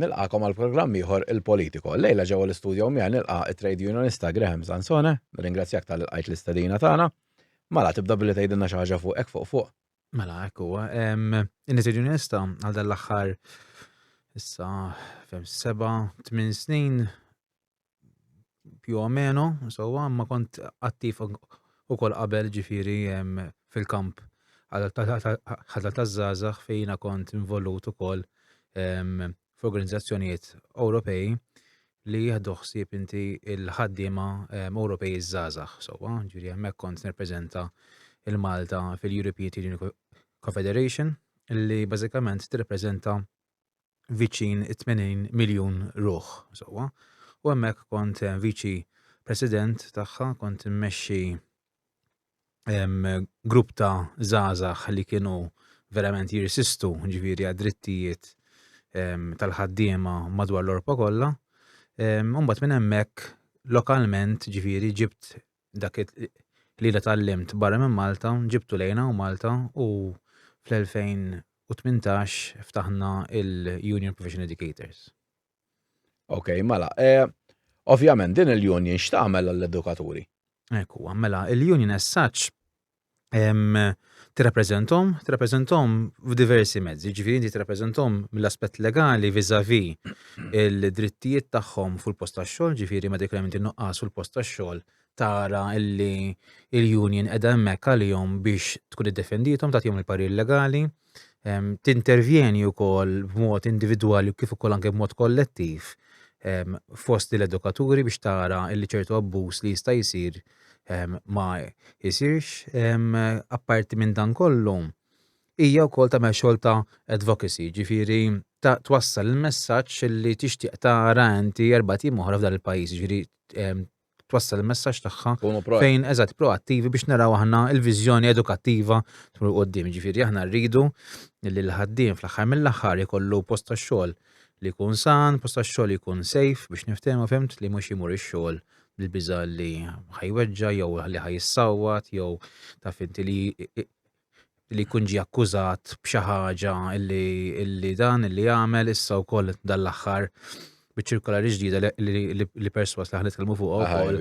Nilqakom għal programm ieħor il-Politico. Lejla ġewwa l-istudjo miegħi nilqa' it-trade unionista Graham Sansone, nirringrazzjak tal qajt l-istedina tagħna. Mala tibda billi tgħidilna xi ħaġa fuq hekk fuq fuq. Mela hekk huwa. In-trade unionista għal dan l-aħħar issa fem seba' tmien snin più o meno, insomma, ma kont attiv u kol qabel ġifiri fil-kamp ħadal ta' zazax fejna kont involut u kol f'organizzazzjonijiet Ewropej li jihdu xsib inti il-ħaddima Ewropej iż-zazax, insomma, ġifiri hemmhekk kont nirrepreżenta il-Malta fil-European Teaching Confederation li bażikament tirrepreżenta viċin 80 miljun ruħ sewwa. U hemmhekk kont eh, viċi president tagħha, kont immexxi grupp ta' żgħażagħ li kienu verament jirsistu ġifieri għad-drittijiet tal-ħaddiema madwar l-Orpa kollha. Mbagħad minn hemmhekk lokalment ġifieri ġibt dak li jiena tgħallimt barra minn Malta ġibtu lejn hawn Malta u fl-2018 ftaħna il-Union Professional Educators. Ok, mela, e, ovvjament din il-union x'tagħmel għall-edukaturi? Ekku, mela, il-union as such tirrappreżenthom, tirrappreżenthom f'diversi mezzi, ġifieri inti tirrappreżenthom mill-aspett legali viżavi il-drittijiet tagħhom fuq il-post tax-xogħol, ġifieri meta jkun hemm inti nuqqas fuq il-post tax-xogħol tara illi il-union qiegħda hemmhekk għalihom biex tkun iddefendithom tagħtihom il-parir legali. tintervjeni wkoll b'mod individwali kif ukoll anke b'mod kollettiv fost l-edukaturi biex tara li ċertu abbuż li jista' jsir ma jsirx. Apparti minn dan kollu, hija wkoll tagħmel xogħol ta' advocacy, ġifieri ta' twassal il-messaġġ li tixtieq tara inti erba' tim oħra f'dan il-pajjiż, ġifieri twassal il-messaġġ tagħha fejn eżatt proattivi biex naraw aħna l-viżjoni edukattiva tmur il qudiem Ġifieri aħna rridu li l-ħaddiem fl-aħħar mill-aħħar ikollu post tax-xogħol li jkun san, post tax-xogħol li jkun safe biex niftehmu fehmt li mhux jmur ix-xogħol bil-biża' li ħajweġġa' jew li ħajissawwat jew taf inti li li jkun ġie akkużat b'xi ħaġa li li dan li għamel issa wkoll dan l-aħħar biċ-ċirkolari ġdida li perswas li ħanitkellmu fuqha wkoll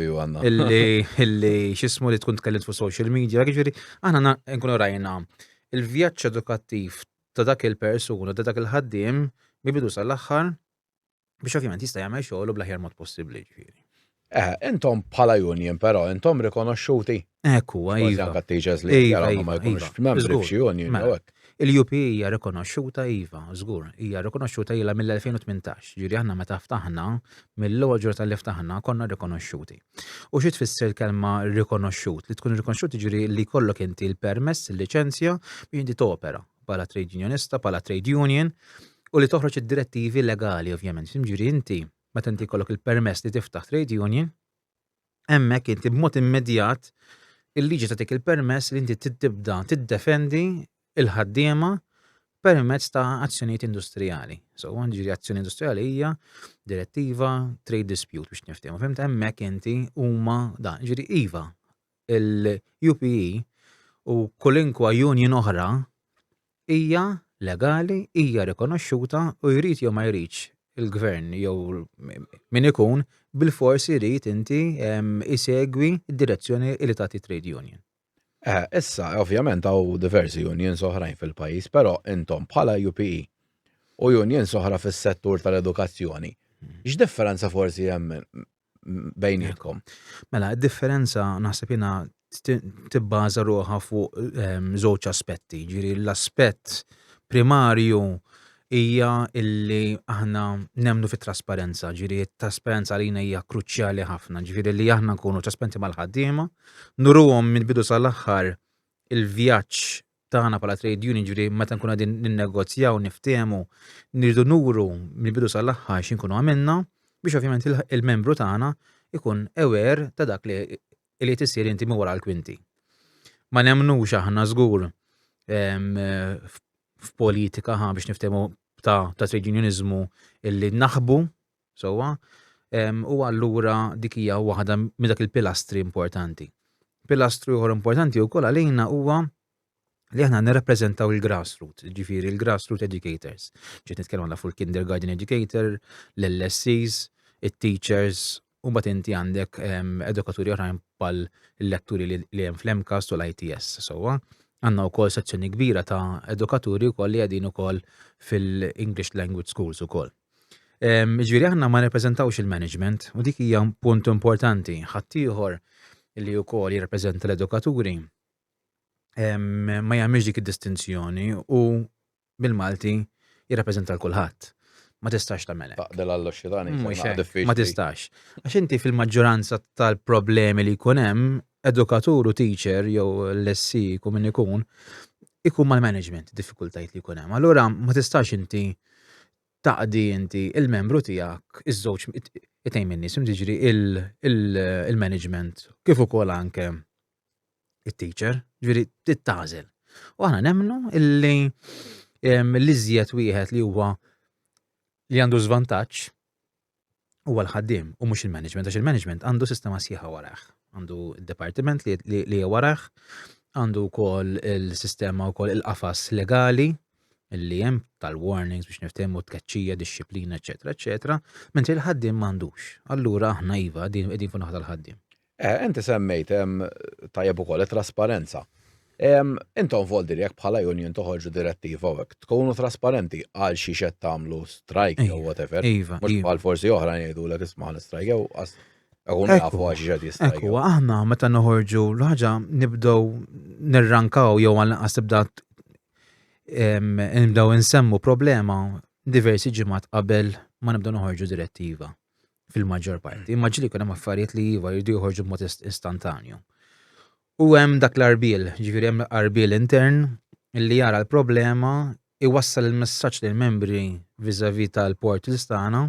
illi x'ismu li tkun tkellimt fuq social media, jiġifieri aħna nkunu rajna il-vjaġġ edukattiv ta' dak il-persuna ta' dak il-ħaddiem mibidu sal-aħħar biex ovvjament jista' jagħmel xogħlu bl-aħjar mod possibbli ġifieri. Eh, intom bħala union però, intom rikonoxxuti. Hekk huwa, iva. Anka teachers li iva, jaraw ma iva, jkunux iva. f'membri f'xi union. Mela, Il-UP hija rikonoxxuta iva, żgur, hija rikonoxxuta ilha mill-2018. Ġieli aħna meta ftaħna, mill-ewwel ġur tal-li ftaħna konna rikonoxxuti. U xi tfisser kelma rikonoxxut? Li tkun rikonoxxut ġieli li kollok inti l-permess, il-liċenzja biex inti topera. bħala trade unionista, bħala trade union, u li toħroġ id-direttivi legali ovvjament. Ġifieri inti meta inti jkollok il-permess li tiftaħ trade union, hemmhekk inti b'mod immedjat il-liġi tagħtik il-permess li inti tibda tiddefendi il-ħaddiema permezz ta' azzjonijiet industrijali. So, ġiri azzjoni industrijali hija direttiva trade dispute biex niftehmu. Fimt hemmhekk inti huma dan, ġiri iva, il-UPE u kulinkwa union oħra hija legali, hija rikonoxxuta u jrid jew ma jridx il-gvern jew min ikun bil-fors irid inti isegwi d-direzzjoni li tagħti trade union. Eh, issa, ovvjament hawn diversi unions oħrajn fil-pajjiż, però intom bħala UPE u unions oħra fis-settur tal-edukazzjoni, x'differenza forsi hemm bejnietkom. Mela, id-differenza naħseb jiena tibbaża ruħha fuq ehm, żewġ aspetti. Ġiri, l-aspett primarju hija illi aħna nemnu fit trasparenza ġiri trasparenza għalina hija kruċjali ħafna, ġiri li aħna nkunu trasparenti mal-ħaddiema, nuruhom minn bidu sal-aħħar il-vjaġġ tagħna bħala trade union ġri meta nkun qegħdin ninnegozjaw niftehmu nirdu nuru mill-bidu sal-aħħar x'inkunu għamilna biex ovvjament il-membru tagħna ikun ewer ta' dak li li tisir inti minn wara l-kwinti. Ma nemnux aħna żgur f'politika ħa biex niftehmu ta' ta' trade unionizmu illi naħbu sewwa, u allura dik hija waħda minn dak il-pilastri importanti. Pilastru ieħor importanti wkoll għalina huwa li aħna nirrappreżentaw il-grassroot, ġifiri il-grassroot educators. Ġiet nitkellmu għandha fuq il-kindergarten educator, l-LSCs, it-teachers, u bat inti għandek edukaturi oħrajn pal letturi li hemm fl-MCAS u l-ITS. Sowa, għandna wkoll sezzjoni kbira ta' edukaturi wkoll li qegħdin ukoll fil-English language schools ukoll. Ġifieri aħna ma nirrepreżentawx il-management u dik hija punt importanti. Ħaddieħor li wkoll jirrepreżenta l-edukaturi ma jagħmilx dik id-distinzjoni u bil-Malti jirrepreżenta l-kulħadd. Ma tistax tagħmel hekk. Taqbel għall xitani. Ma tistax. Għax inti fil-maġġoranza tal-problemi li jkun hemm edukatur u teacher jew l-SC jkun min ikun, ikun mal-management diffikultajiet li jkun hemm. Allura ma tistax inti taqdi inti il-membru tiegħek iż-żewġ itejn minn nies jiġri il-management kif ukoll anke it-teacher, ġifieri tittażel. U aħna nemmnu illi l-iżjed wieħed li huwa li għandu żvantaġġ huwa l-ħaddiem u mhux il-management, għax il-management għandu sistema sħiħa warajh. Għandu d-departiment li warajh, għandu wkoll il-sistema wkoll il-qafas legali li hemm tal-warnings biex niftehmu tkeċċija, disċiplina, eċetera, eċetera, mentri l-ħaddiem m'għandux. Allura aħna iva din qegħdin fuq naħa tal-ħaddiem. Eh, inti semmejt tajjeb ukoll it-trasparenza. Intom voldi li jekk bħala union toħorġu direttiva u tkunu trasparenti għal xi xed tagħmlu strike jew whatever. Iva, Mhux iva. bħal forsi oħra jgħidu l isma' strike jew Għun nafu għax ġed jistaj. Ekku, aħna meta noħorġu l-ħagġa nibdow nirrankaw jew għal naqas tibda nibdow insemmu problema diversi ġimgħat qabel ma nibdow noħorġu direttiva. fil-maġġor parti. Imma ġili kunem affarijiet li jiva jirdu joħorġu b'mod istantanju. U hemm dak l-arbil, ġifiri hemm l-arbil intern li jara l-problema iwassal il-messaġġ lil membri vizavi tal-port l-istana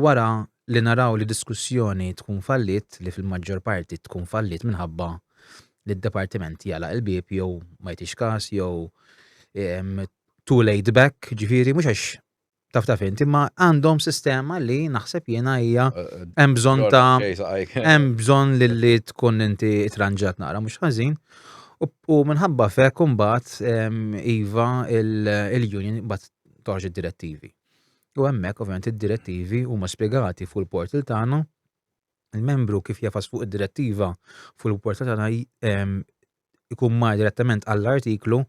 wara li naraw li diskussjoni tkun fallit li fil-maġġor parti tkun fallit minħabba li d-departiment jala il-bib jew ma jtix kas jew too late back ġifiri mhux għax taf taf inti, ma għandhom sistema li naħseb jiena hija eh, eh, hemm bżonn ta' hemm bżonn li tkun inti tranġat nara mhux ħażin. U minħabba fe kumbat iva il-union bat toħġ id-direttivi. U hemmhekk ovvjament id-direttivi huma spjegati fuq il-portal tagħna il-membru kif jafas fuq id-direttiva fuq il-portal tagħna ikun mar direttament għall-artiklu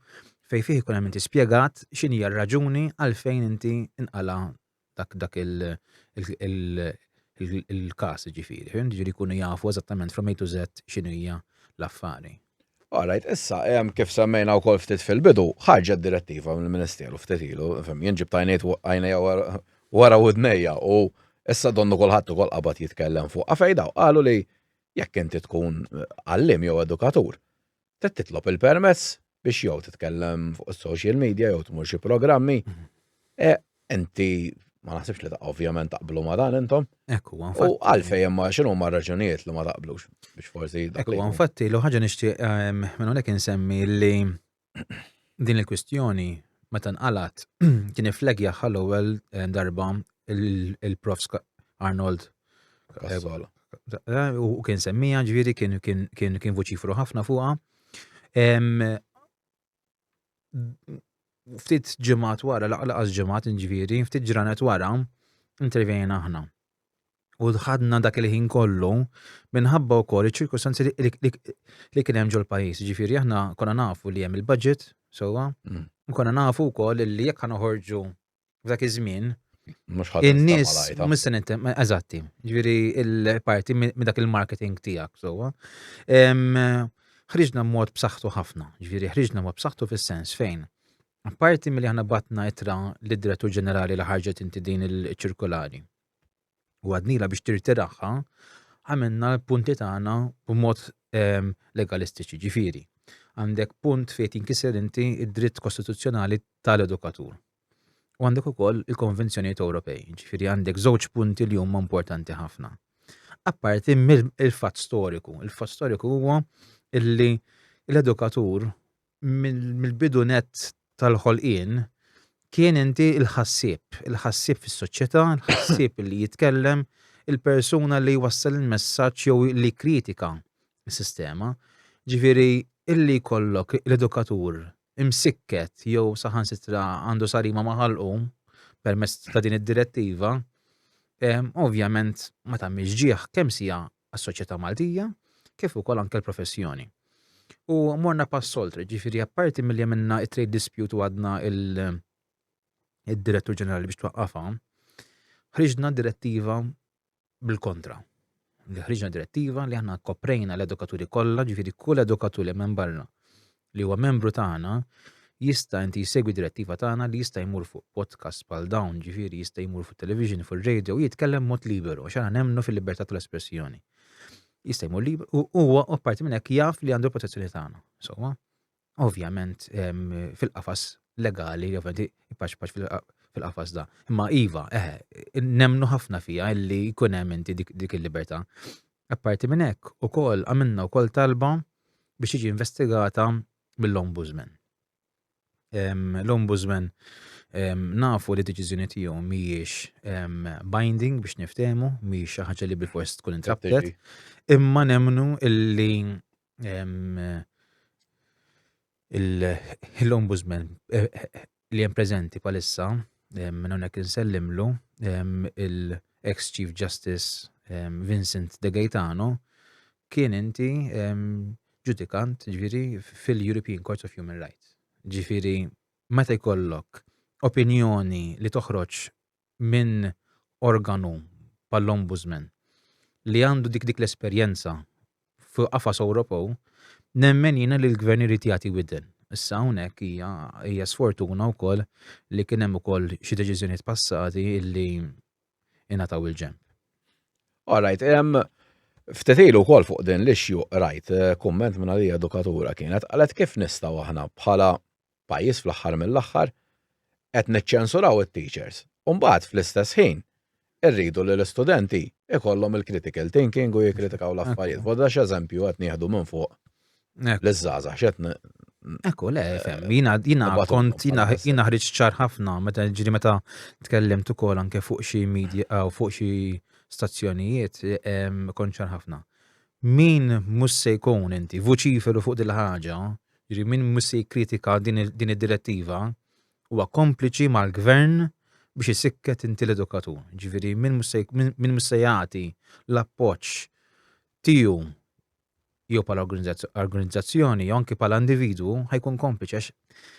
fejn fih ikun hemm inti spjegat x'inhi r-raġuni għalfejn inti inqala dak dak il-każ ġifieri. Fim ġifieri jkunu jafu eżattament from A to Z x'inhu hija l-affari. Alright, issa hemm kif semmejna wkoll ftit fil-bidu, ħarġet direttiva mill-Ministeru ftit ilu, fim jien ġibt għajnejt għajnejja wara widnejja u issa donnu kulħadd ukoll qabad jitkellem fuq. Għafejdaw, qalu li jekk inti tkun għalliem jew edukatur, trid titlob il-permess biex jew titkellem fuq is-social media jew tmur xi programmi. Mhm. E, inti ma naħsibx li ta' ovvjament taqblu ma dan intom. Ekku, U għalfej imma xinu ma raġunijiet li ma taqblux biex forsi. Ekku, infatti, l ħaġa nixtieq ehm, minn hawnhekk insemmi li din il-kwistjoni meta nqalgħet kien iflegja ħal ewwel eh, darba il-Prof Arnold Kassola. Eh, u kien semmija ġviri kien kien kien voċifru ħafna fuqha. Ftit ġimgħat wara, laqas ġimgħat ġviri, ftit ġranet wara, intervjena aħna. U ħadna dak il-ħin kollu minħabba wkoll iċ-ċirkustanzi li kien hemm ġol-pajjiż. Ġifieri aħna konna nafu li hemm il-budget sewwa, mm. u konna nafu wkoll li jekk ħanoħorġu f'dak iż-żmien In-nies mhux se nintem, eżatti, ġifieri il-parti minn dak il-marketing tiegħek sewwa. Ħriġna mod b'saħħtu ħafna, ġifieri ħriġna mod b'saħħtu fis-sens fejn Apparti mill-li ħana batna itra l-direttur ġenerali li ħarġet inti din il-ċirkolari. u għadnila biex tirtiraħħa, għamilna l-punti tagħna b'mod ehm, legalistiċi ġifiri. Għandek punt fejn tinkiser inti id-dritt kostituzzjonali tal-edukatur. U għandek ukoll il-konvenzjonijiet Ewropej, ġifiri għandek żewġ punti li huma importanti ħafna. Apparti mill-fatt storiku, il-fatt storiku huwa illi l-edukatur mill-bidu net tal-ħolqien kien inti il-ħassib, il-ħassib fis-soċjetà, il-ħassib li jitkellem, il-persuna li jwassal il-messaġġ jew li kritika s-sistema. Ġifieri illi jkollok l-edukatur imsikket jew saħansitra għandu sarima maħalqu permezz ta' din id-direttiva, ovvjament ma tagħmilx ġieħ kemm sija għas-soċjetà Maltija kif ukoll anke l-professjoni. U morna pass oltre, ġifieri apparti milli għamilna it-trade dispute u għadna il-direttur ġenerali biex twaqqafha, ħriġna direttiva bil-kontra. Li ħriġna direttiva li aħna koprejna l-edukaturi kollha, ġifieri kull edukatur li hemm barra li huwa membru tagħna jista' inti jsegwi direttiva tagħna li jista' jmur fuq podcast bħal dawn, ġifieri jista' jmur fuq television, fuq radio, jitkellem mod liberu, xana nemmnu fil-libertà tal-espressjoni. Jista' jmur liberu, u huwa apparti minn hekk jaf li għandu l-protezzjoni tagħna. Sewwa, ovvjament fil-qafas legali, ovvjament ipaċpaċ fil-qafas da. Imma iva, eħe, nemmnu ħafna fija illi jkun hemm inti dik il-libertà. Apparti minn hekk, ukoll għamilna wkoll talba biex tiġi investigata mill-Ombudsman. L-Ombudsman nafu li d-deċiżjoni tiegħu mhijiex binding biex niftehmu, mhijiex xi ħaġa li bil-fors tkun intraptet, imma nemmnu illi l-Ombudsman li hemm preżenti bħalissa minn hawnhekk insellimlu il-ex Chief Justice Vincent De Gaetano kien inti ġudikant ġifieri fil-European Court of Human Rights. Ġifieri meta jkollok opinjoni li toħroġ minn organu bħall-Ombudsman li għandu dik dik l-esperjenza fi qafas Ewropew, nemmen jiena li l-Gvern irid jagħti widen. Issa hawnhekk hija hija sfortuna wkoll li kien hemm ukoll xi deċiżjonijiet passati illi ingħataw il-ġenb. All right, hemm ftit ilu wkoll fuq din l-issue rajt eh, kumment minn għalija edukatura kienet qalet kif nistgħu aħna bħala pajjiż fl-aħħar mill-aħħar, qed niċċensuraw it-teachers u mbagħad fl-istess ħin irridu li l-istudenti ikollhom il-critical thinking u jikkritikaw l-affarijiet. Voda x'eżempju qed nieħdu minn fuq l-żgħażagħ x'qed Ekku, le, fem, jina, jina, kont, jina, jina ħriġ ċar ħafna, meta ġiri meta tkellem tukol anke fuq xi media, u fuq xi stazzjonijiet, kont ċar ħafna min mus se jkun inti vuċiferu fuq dil-ħaġa, Jiġri min mhux se jikkritika din id-direttiva huwa kompliċi mal-gvern biex isikket inti l-edukatur. Ġifieri min mhux se jagħti l-appoġġ tiegħu jew pal organizzazzjoni jew anki pal individwu ħajkun kompliċi għax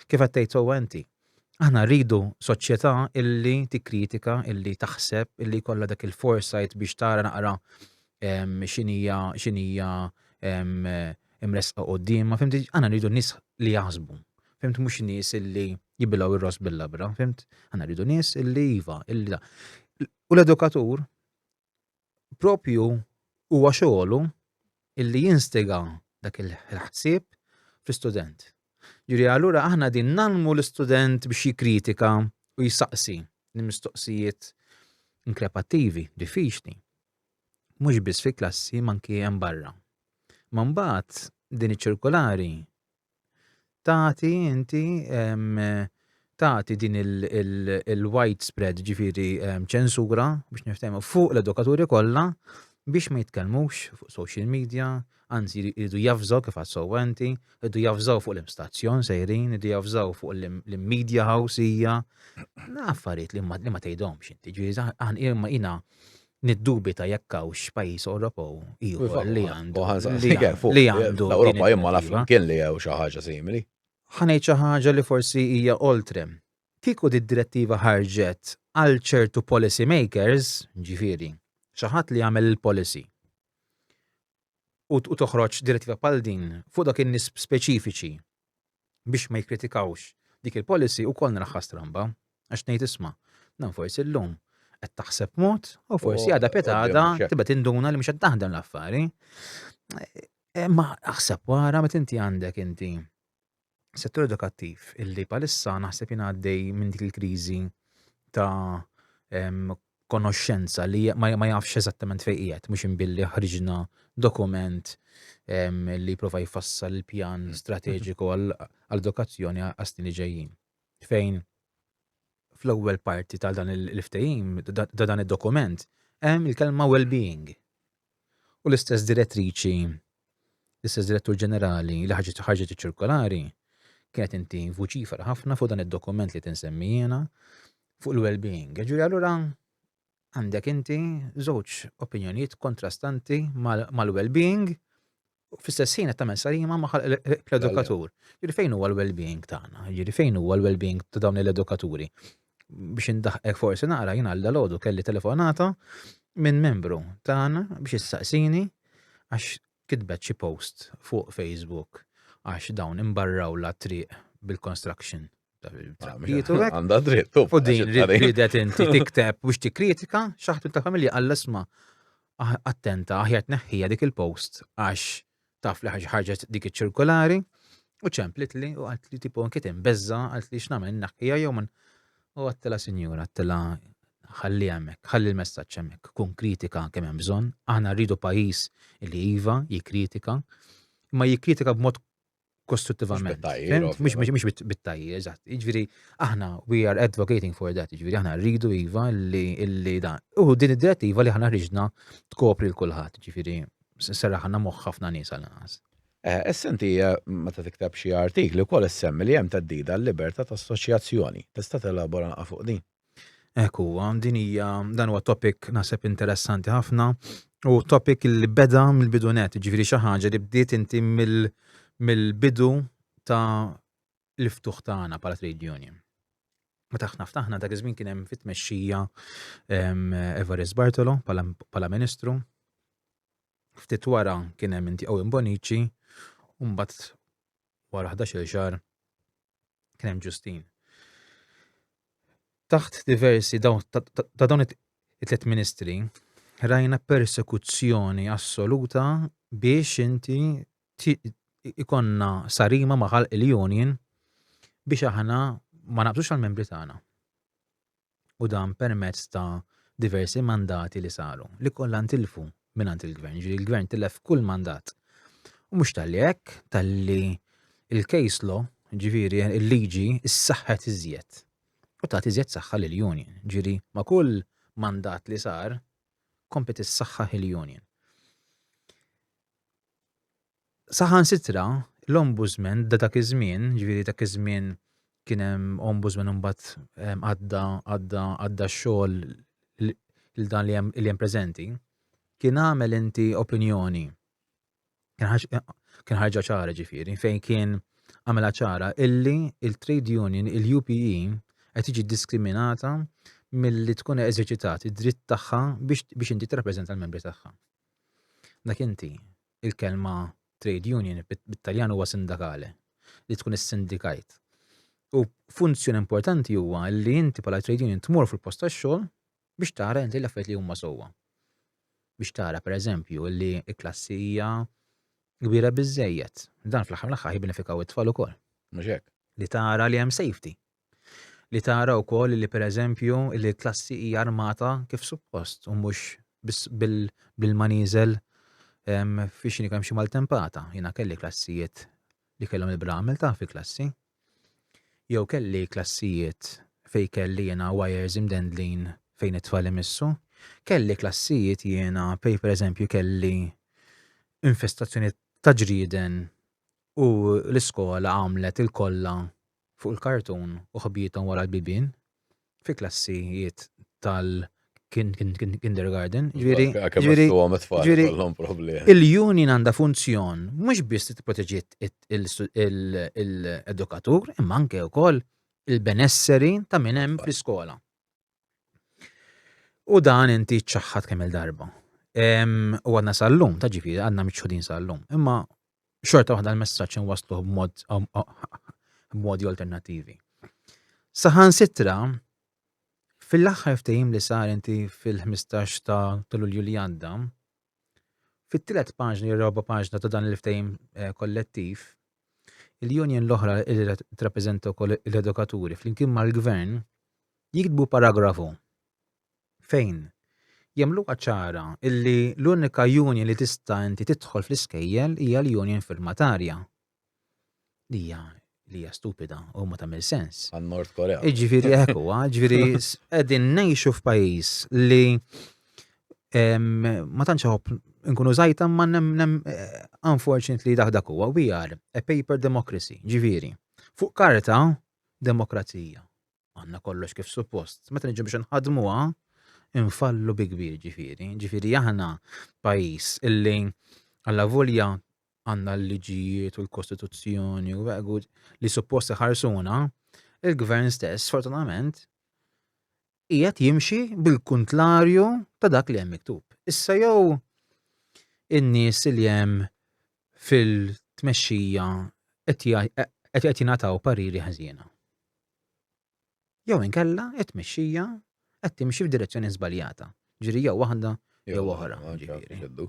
kif qed tgħid sewwa inti. Aħna rridu soċjetà illi tikkritika, illi taħseb, illi jkollha dak il-foresight biex tara naqra xinija xinija imresqa qoddim, ma fimti, aħna rridu nies li jaħsbu. Fimt mhux nies illi jibilgħu ir-ros bil-labra, fimt? Aħna rridu nies illi iva, illi da. U l-edukatur propju huwa xogħlu illi jinstiga dak il-ħsieb fl-istudent. Ġifieri allura aħna din nalmu l-istudent biex jikkritika u jistaqsi l-mistoqsijiet inkrepattivi, diffiċli. Mhux biss fil-klassi manki hemm barra. Ma mbagħad din iċ-ċirkolari tagħti inti tagħti din il-widespread ġifiri ċensura biex niftehmu fuq l-edukaturi kollha biex ma jitkellmux fuq social media, anzi jridu jafżaw kif għas-sowenti, jridu jafżaw fuq l-imstazzjon sejrin, jridu jafżaw fuq l-media house hija. Affarijiet li ma tgħidhomx inti, ġifieri jina Niddubita jekk hawnx pajjiż Ewropew ieħor li għandu li għandu din il-mira. L-Ewropa jien ma naf imkien li hawn xi ħaġa simili. Ħa ngħid xi ħaġa li forsi hija oltre. Kieku did-direttiva ħarġet għal ċertu policy makers, jiġifieri, xi ħadd li jagħmel il-policy, u toħroġ direttiva bħal din fuq dawk in-nies speċifiċi biex ma jikkritikawx dik il-policy ukoll naraħħa stramba. Għax ngħid isma', dan forsi llum qed taħseb mod u forsi għadha peta għadha tibda tinduna li mhux qed taħdem l-affari. Eh, ma aħseb wara meta inti għandek inti settur edukattiv illi palissa naħseb jien għaddej minn dik il-kriżi ta' konoxxenza li ma jafx eżattament fejn qiegħed mhux imbilli ħriġna dokument li jipprova jfassal il-pjan mm. strateġiku għall-edukazzjoni għas-snin li ġejjin. Fejn fl-ewwel parti tal dan il-ftehim ta' dan id-dokument hemm il-kelma well-being. u l-istess direttriċi, l-istess direttur ġenerali li ħarġet ħarġet iċ-ċirkolari kienet inti vuċifera ħafna fuq dan id-dokument li tinsemmi jiena fuq il-well-being. Ġuri allura għandek inti żewġ opinjonijiet kontrastanti mal-well-being fl-istess ħin qed tagħmel salima ma' l-edukatur. Jiġri fejn huwa l-well-being tagħna, jiġri fejn huwa l-well-being ta' dawn l-edukaturi. Biex indaħqek forsi naqra jien għal dalodu kelli telefonata minn membru tagħna biex issaqsini għax kitbet xi post fuq Facebook għax dawn imbarraw la triq bil-construction. Jitu għek. Għanda dritt. U din ridet inti tikteb biex tikkritika xaħtu ta' familja għall-isma. Ah, attenta, aħjat neħħija dik il-post għax taf li ħarġet dik iċ-ċirkolari u ċemplit li u għat li tipo nkiet imbezza għat li xnamen naħħija jew man u għattela sinjura għattela ħalli għamek, ħalli l-messagġ għamek, kun kritika kemm hemm bżonn, aħna rridu pajis li iva jikritika, ma jikritika b'mod kostruttivament. Mux bit-tajjir, eżatt. Iġviri, aħna, we are advocating for that, iġviri, aħna rridu iva li da. U din id-direttiva li aħna rriġna tkopri l-kulħat, iġviri, s-serra ħanna moħħafna nisa l-għas. Eh, essenti, eh, ma ta' tiktab xie artikli, kol essemmi li jem ta' dida l-liberta ta' assoċjazzjoni. Tista' t-elabora fuq din? Hekk huwa, din hija dan huwa topic naħseb interessanti ħafna u topic li beda mill-bidunet, ġifieri xi ħaġa li bdiet inti mill-bidu ta' l-iftuħ tagħna bħala trade union. Meta aħna ftaħna dak iż-żmien kien hemm fit-tmexxija Everest Bartolo bħala Ministru. Ftit wara kien hemm inti Owen Bonici u mbagħad wara 11-il xahar Kien hemm ġustin. Taħt diversi ta' dawn it-tlet ministri rajna persekuzzjoni assoluta biex inti ikonna sarima maħal il-union biex aħna ma naqbżux għal-membri tagħna. u dan permezz ta' diversi mandati li saru, li kollha ntilfu mingħand il-Gvern, jiġifieri il-Gvern tilef kull mandat. U mhux talli hekk, talli il-case law, jiġifieri il-liġi ssaħħet iżjed u tat iżjed saħħa lill-union. Ġifieri ma' kull mandat li sar kompet issaħħaħ il-union. Saħansitra, l-Ombudsman ta' dak iż-żmien, ġifieri dak iż-żmien kien hemm Ombudsman imbagħad għadda għadda għadda x-xogħol lil dan li hemm li hemm preżenti, kien għamel inti opinjoni kien ħarġa ċara ġifieri fejn kien għamela ċara illi il-trade union il-UPE qed tiġi diskriminata milli tkun eżerċitat id-dritt tagħha biex inti tirrappreżenta l-membri tagħha. Dak inti. il-kelma trade union bit-Taljan huwa sindakale, li tkun is-sindikajt. U funzjoni importanti huwa li inti bħala trade union tmur fil-post tax-xogħol biex tara inti l-affarijiet li huma sewwa. Biex tara pereżempju li l-klassi hija kbira biżejjed. Dan fl-aħħar mill-aħħar jibbenefikaw it-tfal ukoll. Mhux hekk. Li tara li hemm safety. li tara wkoll li pereżempju li l-klassi hija armata kif suppost u mhux biss bil-manieżel fi xini kemm xi maltempata. Jiena kelli klassijiet li kellhom il-bramel ta' fi klassi. Jew kelli klassijiet fej kelli jiena wires imdendlin fejn it-tfal imissu. Kelli klassijiet jiena pej per eżempju kelli infestazzjoni ta' ġrieden u l-iskola għamlet il-kolla fuq il-kartun u ħbiethom wara l-bibien fi klassijiet tal-kindergarten. Ġifieri, il-union għandha funzjon mhux biss tipproteġi l-edukatur imma anke wkoll il-benesseri ta' min hemm fl-iskola. U dan inti ċaħħat kemm il-darba. U għadna sal-lum, ta' ġifiri, għadna miċħudin sal-lum. Imma xorta waħda l-messaċ nwaslu b'modi alternativi. Saħan sitra, fil-axħar ftejim li sar inti fil-15 ta' l-Ulju li għadda, Fit-tliet paġni jew raba' paġna ta' dan il-ftehim eh, kollettiv, il-union l-oħra li tirrappreżenta wkoll l-edukaturi flimkien mal-gvern jiktbu paragrafu fejn jagħmlu ċara illi l-unika union li tista' inti tidħol fl-iskejjel hija l-union firmatarja li hija li hija stupida u ma tagħmel sens. Għan Nord Korea. Ġifieri hekk huwa, ġifieri qegħdin ngħixu f'pajjiż li ma tantx ħobb nkunu żajta ma nemnem eh, unfortunately dak dak huwa we are a paper democracy, ġifieri. Fuq karta demokrazija. għandna kollox kif suppost. Meta niġu biex nħadmuha, infallu bi kbir ġifieri. Ġifieri aħna pajjiż illi għalla volja għandna l-liġijiet u l-Kostituzzjoni u għegu li suppost ħarsuna, il-gvern stess, fortunament, qiegħed jimxi bil-kuntlarju ta' dak li hemm miktub. Issa jew in-nies li hemm fil-tmexxija qed jingħataw pariri ħażina. jew inkella it-tmexxija qed timxi f'direzzjoni żbaljata. Ġifieri jew waħda jew oħra. Ġifieri.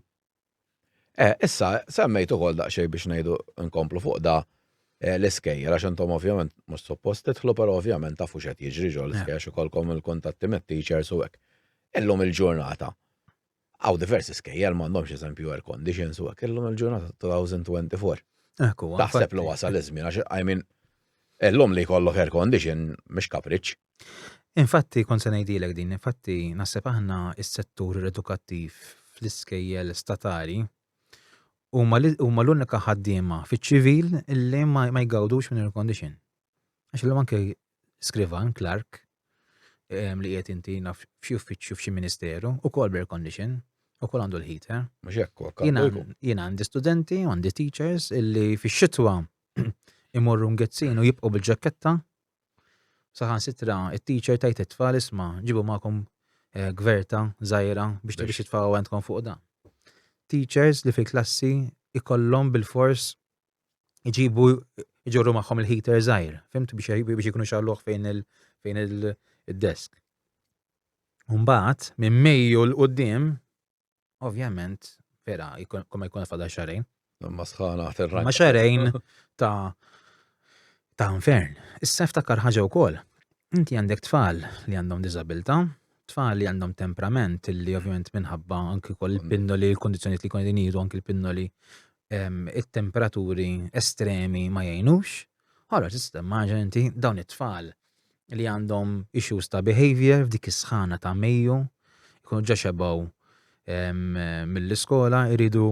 Eh, issa, semmejt ukoll daqsxejn biex ngħidu nkomplu fuq da eh, l-iskejjer, għax intom ovvjament mhux suppost titħlu, però ovvjament tafu x'qed jiġri ġol l-iskejjer eh. xi kolkom il-kuntatti mit-teachers u hekk. Illum il-ġurnata, Hawn diversi skejjel m'għandhomx eżempju air conditions u hekk illum il-ġurnata 2024. Hekk huwa. Taħseb li wasal iż-żmien għax I mean illum li jkollok air condition mhix kapriċċ. Infatti kont se ngħidilek din, infatti naħseb aħna s-settur edukattiv fl-iskejjel statali huma l-unika ħaddiema fiċ-ċivil li ma jgawdux minn air condition. Għax illum anke skrivan, klark, li qiegħed inti naf f'xi uffiċċju f'xi ministeru, ukoll b'air condition, ukoll għandu l-heater. Mhux hekk Jien għandi studenti, għandi teachers illi fix-xitwa imorru ngezzin u jibqgħu bil-ġaketta. Saħan sitra, it-teacher tajt it-tfal isma' ġibu magħkom eh, gverta żgħira biex tibiex it-tfal għandkom fuq dan. Teachers li fil-klassi ikollhom bil-fors iġibu iġorru magħhom il-heater żgħir, fimt biex ikunu xalluħ fejn il- fejn il-desk. Umbat, minn Mejju l-qoddim, ovvjament, vera, koma jkun fada xarajn. Ma sħana terra. Ma xarajn ta' ta' infern. Issa ftakar ħaġa wkoll. Inti għandek tfal li għandhom diżabilità, tfal li għandhom temperament li ovvjament minħabba anki kol il-pinnoli, il-kondizjoni li kon jinidu anki il-pinnoli it-temperaturi estremi ma jgħinux. Ħara tista' maġen inti dawn it-tfal li għandhom issues ta' behavior f'dik is-sħana ta' Mejju, jkunu ġa xebgħu mill-iskola, iridu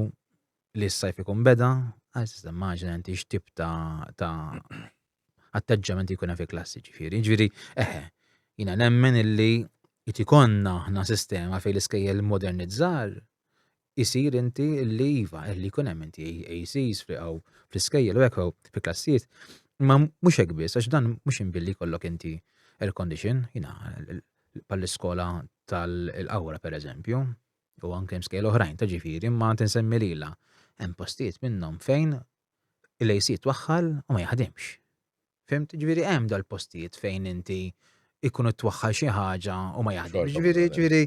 li s-sajf ikun beda, għal tista' maġen inti x'tip ta' atteġġament jkun fi klassi ġifieri. Ġifieri, eħe, jina nemmen illi jtikonna ħna sistema fej l-iskejjel modernizzar isir inti li iva, li jkun hemm inti ACs friqaw fl-iskejjel u hekk fi klassijiet. Ma mhux hekk biss, għax dan mhux inbilli jkollok inti air condition, jina pal-iskola tal-qawra per eżempju, u anke mskejl oħrajn ta' ġifieri, ma tinsemmi lila. Hemm postijiet minnhom fejn il-AC twaħħal u ma jaħdimx. Fimt? Ġifieri hemm dal-postijiet fejn inti ikun twaħħal xi ħaġa u ma jaħdimx. Ġifieri ġifieri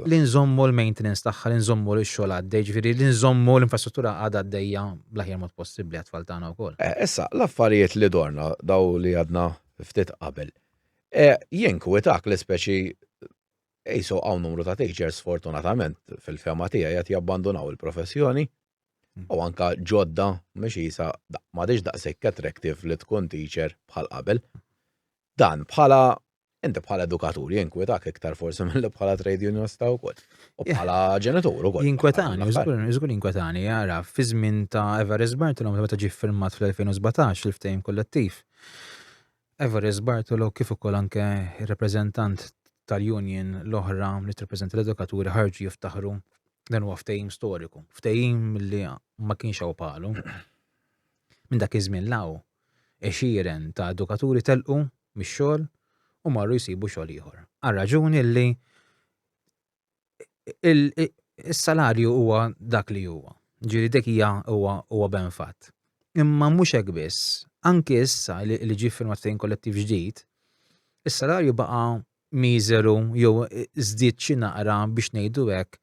li nżommu l-maintenance tagħha, li nżommu l-xogħol għaddej, ġifieri li nżommu l-infrastruttura għad għaddejja bl-aħjar mod possibbli għat-tfal tagħna wkoll. Issa, l-affarijiet li dorna daw li għadna ftit qabel. Jinkwitak li speċi ejso hawn numru ta' teachers fortunatament fil-fema tiegħi qed jabbandunaw il-professjoni u anke ġodda mhux qisha m'għadhiex daqshekk attractive li tkun teacher bħal qabel. Dan bħala inti bħala edukatur jinkwetak iktar forsi milli bħala trade unionista wkoll. U bħala ġenitur ukoll. Jinkwetani, żgur jinkwetani, jara, fi żmien ta' Everest Bartolom meta ġie firmat fl-2017 il-ftehim kollettiv. Evarist Bartolo kif ukoll anke r-rappreżentant tal-union l-oħra li tirrappreżenta l-edukaturi ħarġu jiftaħru dan huwa ftehim storiku, ftehim li ma kienx hawn bħalu. Minn dak iż-żmien l-hawn, għexieren ta' edukaturi telqu mix-xogħol u marru jsibu xogħol ieħor. Għar-raġuni li is-salarju huwa dak li huwa. Ġiri dik hija huwa huwa ben fatt. Imma mhux hekk biss, anki issa li ġie firmat fejn kollettiv ġdid, is-salarju baqa' miżeru jew żdied xi naqra biex ngħidu hekk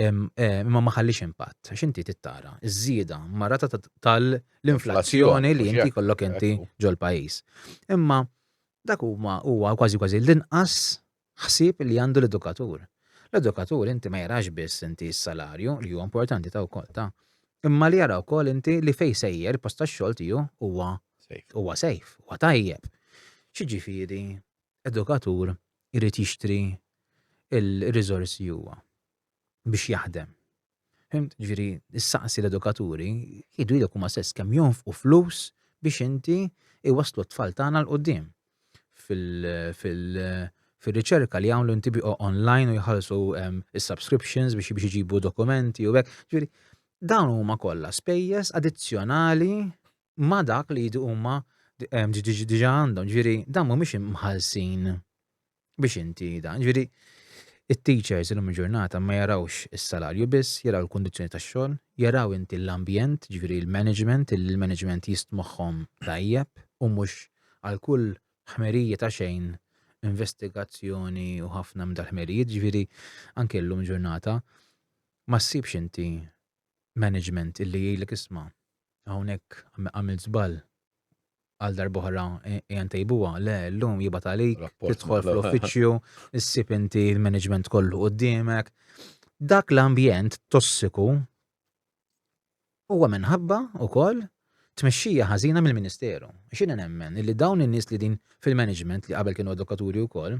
imma ma ħallix impatt. Għax inti tittara ż-żieda marata tal-inflazzjoni li inti kollok inti ġol-pajjiż. Imma dak huma huwa kważi kważi l-inqas Ħsieb li għandu l-edukatur. L-edukatur inti ma jarax biss inti s-salarju, li huwa importanti ta' wkoll ta', imma li jara wkoll inti li fejn sejjer il-post tax-xogħol tiegħu huwa huwa safe, huwa tajjeb. X'jiġifieri edukatur irid jixtri l-riżorsi huwa biex jaħdem, Fimt? Ġifieri, issaqsi l-edukaturi, jgħidu lilek huma stess kemm jonfqu flus biex inti iwasslu t-tfal tagħna l quddiem fil-riċerka li jagħmlu inti biqgħu online u jħallsu ehm, is-subscriptions biex biex iġibu dokumenti u hekk. Ġifieri, dawn huma kollha spejjeż addizzjonali ma' dak li jdu huma ehm, diġà għandhom. Ġifieri, dawn mhumiex imħallsin biex inti dan. Ġifieri it-teachers illum il-ġurnata ma jarawx is-salarju biss, jaraw il-kundizzjoni tax-xogħol, jaraw inti l-ambjent, ġifieri l-management, il-management jistmoħħhom tajjeb u mhux għal kull ħmerija ta' xejn investigazzjoni u ħafna minn dal-ħmerijiet, ġifieri anke llum ġurnata ma ssibx inti management illi jgħidlek isma' hawnhekk għamil żball għal darbohra ejja ntejbuha, le llum jibgħat għalik, tidħol fl-uffiċċju, issib inti l-management kollu qudiemek. Dak l-ambjent tossiku huwa minħabba wkoll tmexxija ħażina mill-Ministeru. X'inha nemmen li dawn in-nies li din fil-management li qabel kienu edukaturi wkoll,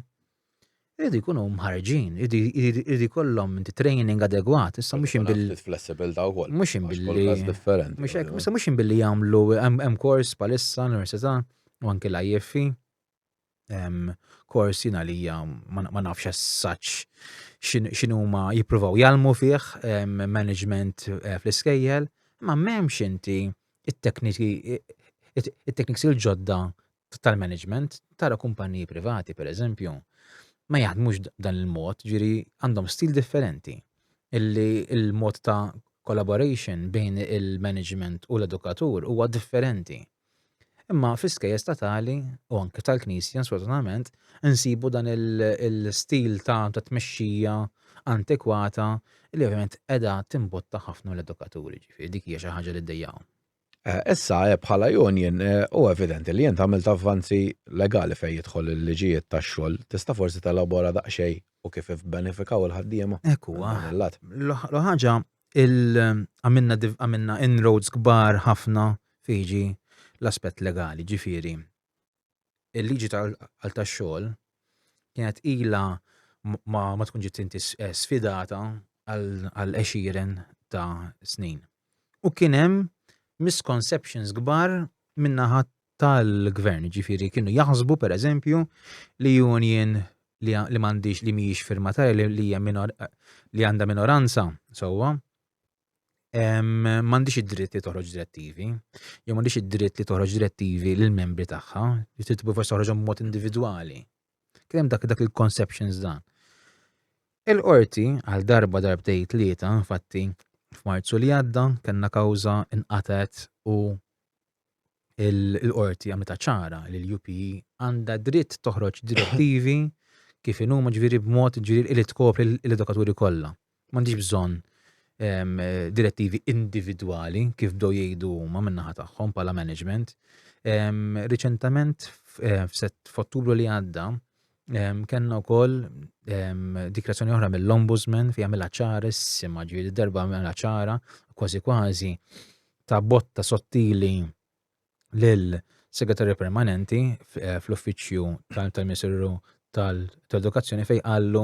Iridu jkunu mħarġin, iridu jkollhom inti training adegwat, issa mhux imbil. Flessibil ta' wkoll. Mhux imbilli. differenti. Mhux hekk, issa mhux imbilli jagħmlu hemm kors palissa l-università u anke l-IFF. Kors jina li ma nafx as-saċ x'inhuma jippruvaw jgħalmu fih management eh, fl-iskejjel, ma m'hemmx inti it-tekniki it-tekniks il-ġodda tal-management tara kumpaniji privati pereżempju ma jaħdmux b'dan il-mod, ġiri għandhom stil differenti illi il-mod ta' collaboration bejn il-management u l-edukatur huwa differenti. Imma fl-iskejjes ta' tali u anke tal-Knisja sfortunatament insibu dan il-stil ta' ta' tmexxija antikwata li ovvjament qiegħda timbotta ħafna l-edukaturi ġifieri dik hija xi ħaġa li ddejjaqhom. Issa, bħala union, hu evidenti li int għamilt avvanzi legali fejn jidħol il-liġijiet tax-xogħol. Tista' forsi telabora daqsxejn u kif ibbenefikaw il-ħaddiema? Hekk huwa. L-oħra ħaġa, għamilna inroads kbar ħafna fejn jiġi l-aspett legali, jiġifieri il-liġi tal-qal tax-xogħol kienet ilha ma, ma tkun ġiet inti eh, sfidata għal għexieren ta' snin. U kien hemm misconceptions kbar minnaħa tal-gvern, ġifiri kienu jaħsbu per eżempju li union li, li mandiġ li miex firmatarja li, li, minor, li għanda minoranza, sowa, m'għandix id-dritt li toħroġ direttivi, jew m'għandix id-dritt li toħroġ direttivi lill membri tagħha, li trid tibgħu forsi toħroġhom b'mod individwali. Kien hemm dak dak il-conceptions dan. Il-qorti għal darba darbtej tlieta, infatti, f'Marzu li għadda, kellna kawża inqatet u il-qorti għamlitha ċara li l-UPE għandha dritt toħroġ direttivi kif inhuma ġifieri b'mod ġifieri li tkopri l-edukaturi kollha. M'għandix bżonn ehm, direttivi individwali kif bdew jgħidu huma min-naħa tagħhom bħala management. Ehm, riċentament eh, f'Ottubru li għadda Kenna u koll dikrazzjoni oħra mill-ombudsman fi għamil ċara s-sima ġviri darba għamil ċara kważi kważi ta' botta sottili l-segretarju permanenti eh, fl-uffiċju tal-ministeru tal-edukazzjoni fej għallu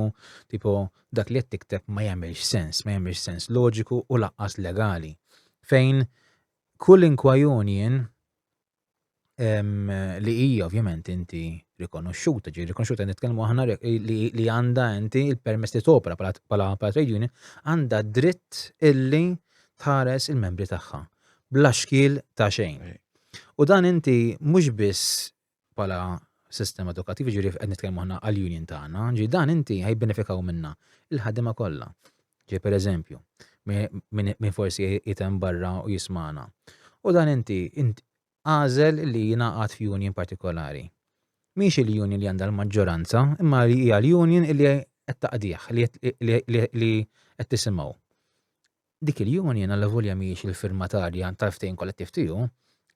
tipo dak li jettikteb ma jagħmilx sens, ma jagħmilx sens loġiku u laqqas legali. Fejn kull inkwajunjen li hija ovvjament inti rikonoxxuta, ġi rikonoxxuta nitkellmu aħna li għandha inti il-permess li topra bħala trade union għandha dritt illi tħares il-membri tagħha bla xkiel ta' xejn. U dan inti mhux biss bħala sistema edukattiva ġiri qed nitkellmu aħna għall-union tagħna, ġi dan inti ħajbenefikaw minna il-ħadima kollha. Ġej pereżempju, min forsi qiegħed hemm barra u jismagħna. U dan inti għażel li jingħaqad f'union partikolari. Mhix il-union li għandha l-maġġoranza, imma li hija l-union li qed taqdih, li qed tisimgħu. Dik il-union għal volja mhijiex il-firmatarja tal-ftehim kollettiv tiegħu,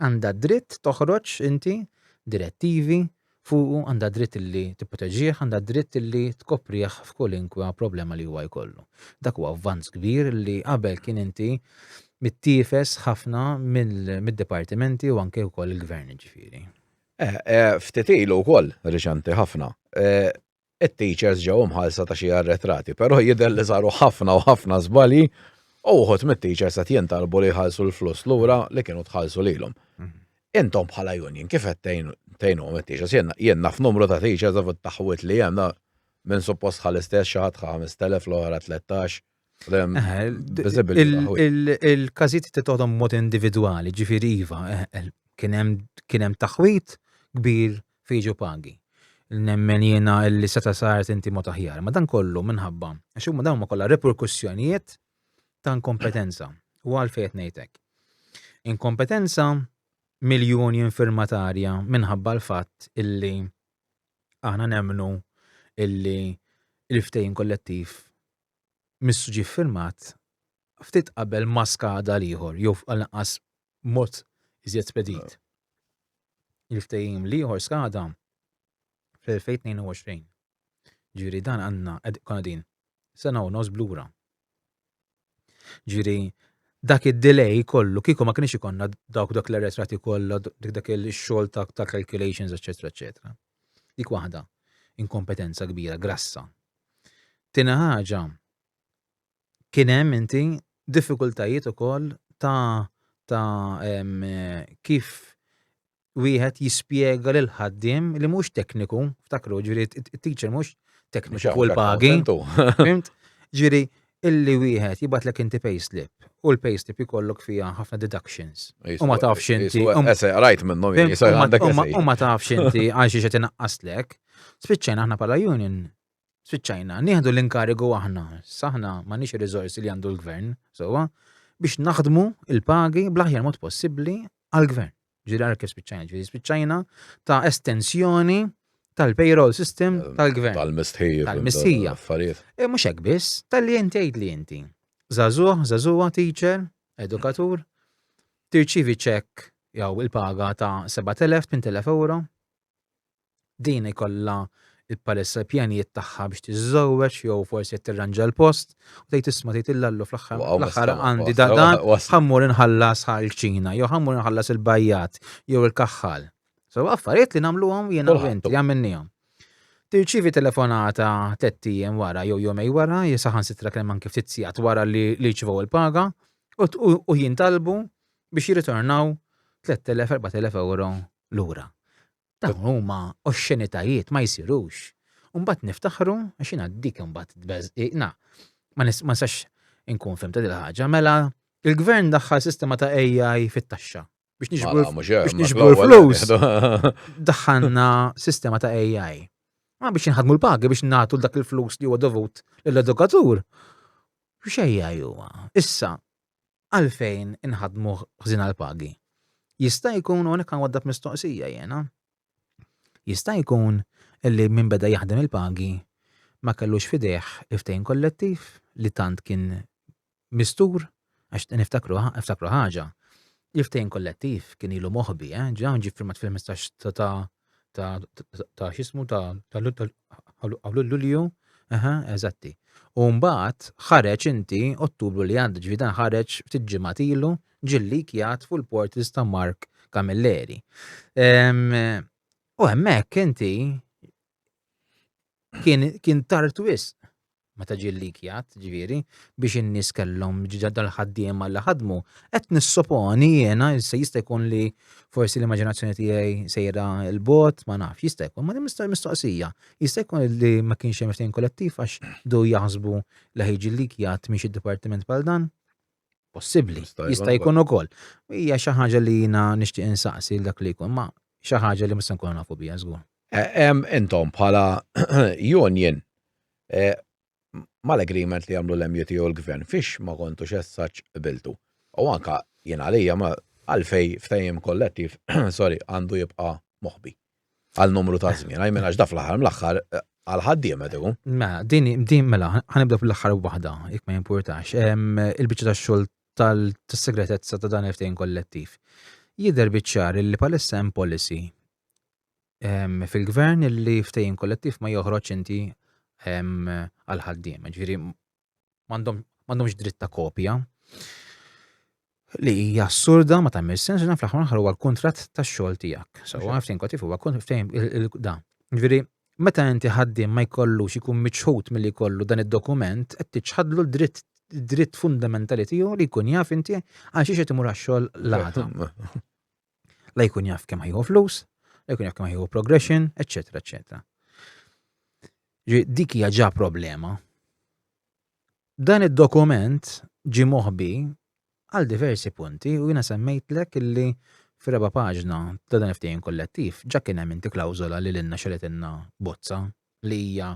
għandha dritt toħroġ inti direttivi fuqu, għandha dritt li tipproteġih, għandha dritt li tkoprih f'kolinkwa problema li huwa jkollu. Dak huwa avvanz kbir li qabel kien inti mittifes ħafna mid-dipartimenti u anke wkoll il-gvern ġifieri. Eh, eh, ftit ilu wkoll, riċenti ħafna, eh, it-teachers ġew imħallsa ta' xi arretrati, però jidher li saru ħafna u ħafna żbalji u wħud mit-teachers qed jintalbu li jħallsu l-flus lura li kienu tħallsu lilhom. Intom bħala union kif qed tgħinuhom it-teachers? Jien naf numru ta' teachers taħwit li hemm minn suppost ħa l-istess xi ħadd ħa 5,000 l-oħra 13 Il-każijiet titgħodhom mod individwali, ġifieri iva, eh, eh, kien hemm taħwit kbir fiġu pagi. Nemmen jiena li seta' saret inti mod aħjar, ma dan kollu minħabba għax huma dawn ma kollha reperkussjonijiet ta' inkompetenza u għalfejn ngħidlek. Inkompetenza miljoni infirmatarja minħabba l-fatt illi aħna nemnu illi il-ftejn kollettiv missu ġie ffirmat ftit qabel ma skada l-ieħor jew għall-inqas b'mod iżjed spedit. Il-ftehim l-ieħor skada fl-2022. Ġifieri dan għandna konna din sena u nofs blura. Ġifieri dak id-delay kollu kieku ma kienx ikonna dawk dak l-arretrati kollha dak il-xogħol ta' calculations eċetera eċetera. Dik waħda, inkompetenza kbira, grassa. Tieni ħaġa, kien hemm inti diffikultajiet ukoll ta' ta' kif wieħed jispjega lil ħaddiem li mhux tekniku, ftakru, ġifieri t-teacher mhux tekniku l pagi. Fimt? Ġifieri illi wieħed jibgħatlek inti payslip u l-payslip jkollok fiha ħafna deductions. U ma tafx inti. Ese, rajt minnhom U ma tafx inti għal xi qed inaqqaslek. Spiċċajna aħna bħala union spiċċajna nieħdu l-inkarigu aħna, saħna ma nix riżorsi li għandu l-gvern, sewwa, biex naħdmu il-pagi bl-aħjar mod possibbli għall-gvern. Ġiri għal kif spiċċajna, ġiri spiċċajna ta' estensjoni tal-payroll system eh, tal-gvern. Tal-mistħija. Tal-mistħija. Affarijiet. E mux hekk biss, tal-li inti għid li inti. Zazuħ, zazuħa, teacher, edukatur, tirċivi ċek jew il-paga ta' 7.000, 8.000 euro, Din ikollha bħalissa l-pjanijiet tagħha biex tiżżewweġ jew forsi qed tirranġa l-post u tgħid isma' tgħid illallu fl-aħħar l-aħħar għandi da dan ħammur inħallas ħal-ċina jew ħammur inħallas il-bajjat jew il-kaħħal. So affarijiet li nagħmluhom jiena u inti għamilnihom. Tirċivi telefonata tliet ijiem wara jew jomej wara, jisaħan sitra kemm anke ftit sigħat wara li li ċivaw il-paga u jintalbu biex jirritornaw 3,000-4,000 euro lura. Dawn huma oxxenitajiet ma jsirux. Mbagħad niftaħru għax jiena dik imbagħad tbeżqiqna. Ma nistax inkun fim ta' dil-ħaġa, mela il-gvern daħħal sistema ta' AI fit-taxxa biex nixbru flus. Daħħalna sistema ta' AI. Ma biex nħadmu l-pagi biex nagħtu dak il-flus li huwa dovut l-edukatur. X'ejja huwa. Issa, għalfejn inħaddmu ħżin għall-pagi? Jista' jkun hawnhekk nwaddab mistoqsija jiena. Jista' jkun illi min beda jaħdem il-pagi ma kellux fidejh il-ftehim kollettiv li tant kien mistur għax niftakru niftakru ħaġa. Il-ftehim kollettiv kien ilu moħbi, eh, ġa ġie firmat fil-15 ta' ta' ta' xismu ta' Lulju, aha, eżatti. U mbagħad ħareġ inti Ottubru li għadda ġifi dan ħareġ ftit ġimgħat ilu ġilli kjat fuq il-portals ta' Mark Camilleri. U hemmhekk inti kien, kien tard wisq meta ġie likjat, ġifieri, biex in-nies kellhom dal-ħaddiema li ħadmu, qed nissoponi jiena se jista' jkun li forsi l-immaġinazzjoni tiegħi sejra l-bot, ma nafx, jista' jkun, ma nista' mistoqsija. Jista' jkun li ma kienx hemm ftehim kollettiv għax do jaħsbu li ħejġi likjat miex id-dipartiment bħal dan. possibbli. Jista' jkun ukoll. Hija xi ħaġa li jiena nixtieq insaqsi dak li jkun, ma xi ħaġa li mista nkun nafu biha żgur. Hemm intom bħala union e, mal-agreement li jagħmlu l-MUT u l-gvern fiex ma kontu xessaċ biltu. U anka jien għalija ma għalfej ftajjem kollettiv, sorry, għandu jibqa' moħbi. għal numru ta' żmien, għaj minn għax da fl-aħħar mill-aħħar eh, għal ħaddiem qed ikun. Ma din din mela ħanibda fl-aħħar waħda jekk ma jimpurtax. Il-biċċa tax-xogħol tal-segretezza ta' dan il-ftehim kollettiv. Jidher biċċar li palissa hemm policy fil-gvern li ftehim kollettiv ma joħroġ inti għal ħaddiem. Ġifieri m'għandhomx dritt ta' kopja li hija assurda ma tagħmel sens dan fl-aħħar aħħar huwa l-kuntratt tax-xogħol tiegħek. So għaftin kotif huwa ftehim da. Ġifieri, meta inti ħaddiem ma jkollux ikun miċħud milli jkollu dan id-dokument qed tiċħadlu l-dritt dritt fundamentali tiegħu li jkun jaf inti għal xiex qed imur għax-xogħol l-għada. La jkun jaf kemm ħajħu flus, la jkun jaf kemm ħajħu progression, eccetera, eccetera. Dik hija ġa problema. Dan id-dokument ġi moħbi għal diversi punti u jina semmejtlek illi f'reba paġna ta' dan ftehim kollettiv ġa kien hemm inti klawżola li lilna xeletinna bozza li hija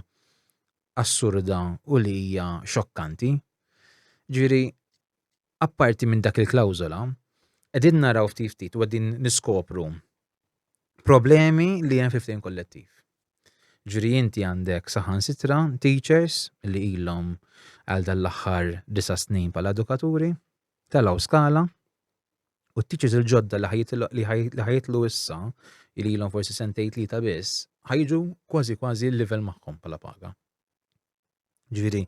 assurda u li hija xokkanti. Ġiri, apparti minn dak il-klawżola, qegħdin naraw ftit ftit u qegħdin niskopru problemi li hemm fi ftehim kollettiv. Ġri inti għandek saħansitra teachers li ilhom għal dan l-aħħar disa' snin bħala edukaturi, telaw skala, u t-teachers il-ġodda li ħajitlu issa li ilhom forsi sentejt li ta' biss, ħajġu kważi kważi l-level magħhom bħala paga. Ġviri,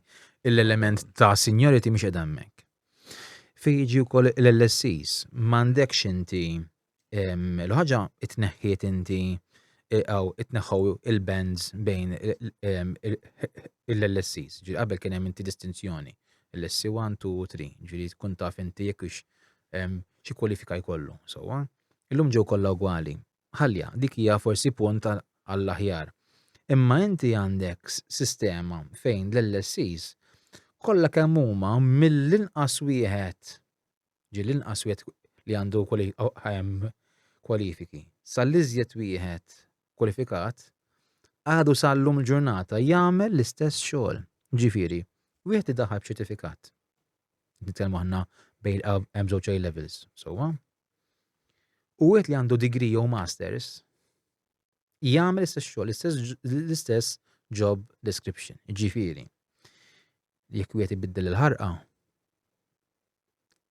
l-element ta' seniority mhix qed hemmhekk. Fej jiġi wkoll l-LSCs, m'għandekx inti l-ħaġa itneħħiet inti għaw itneħħaw il-bands bejn l-LSCs. Ġviri, qabel kien hemm inti distinzjoni. LSC 1, 2 u 3. Ġviri, tkun taf inti jekk xi kwalifika jkollu. Sewwa? Illum ġew kollha ugwali. ħallja, dik hija forsi punt għall-aħjar. Imma inti għandek sistema fejn l-LSEs kollha kemm huma mill-inqas wieħed, ġieli l-inqas wieħed li għandu kwalifiki, sal-iżjed wieħed kwalifikat, għadu sal-lum il-ġurnata jagħmel l-istess xogħol. Ġifieri, wieħed idaħħal b'ċertifikat. Nitkellmu aħna bejn hemm żewġ A levels, sewwa? U wieħed li għandu degree jew masters jagħmel istess xogħol, l-istess job description, ġifieri. Jekk wieħed ibiddel il-ħarqa,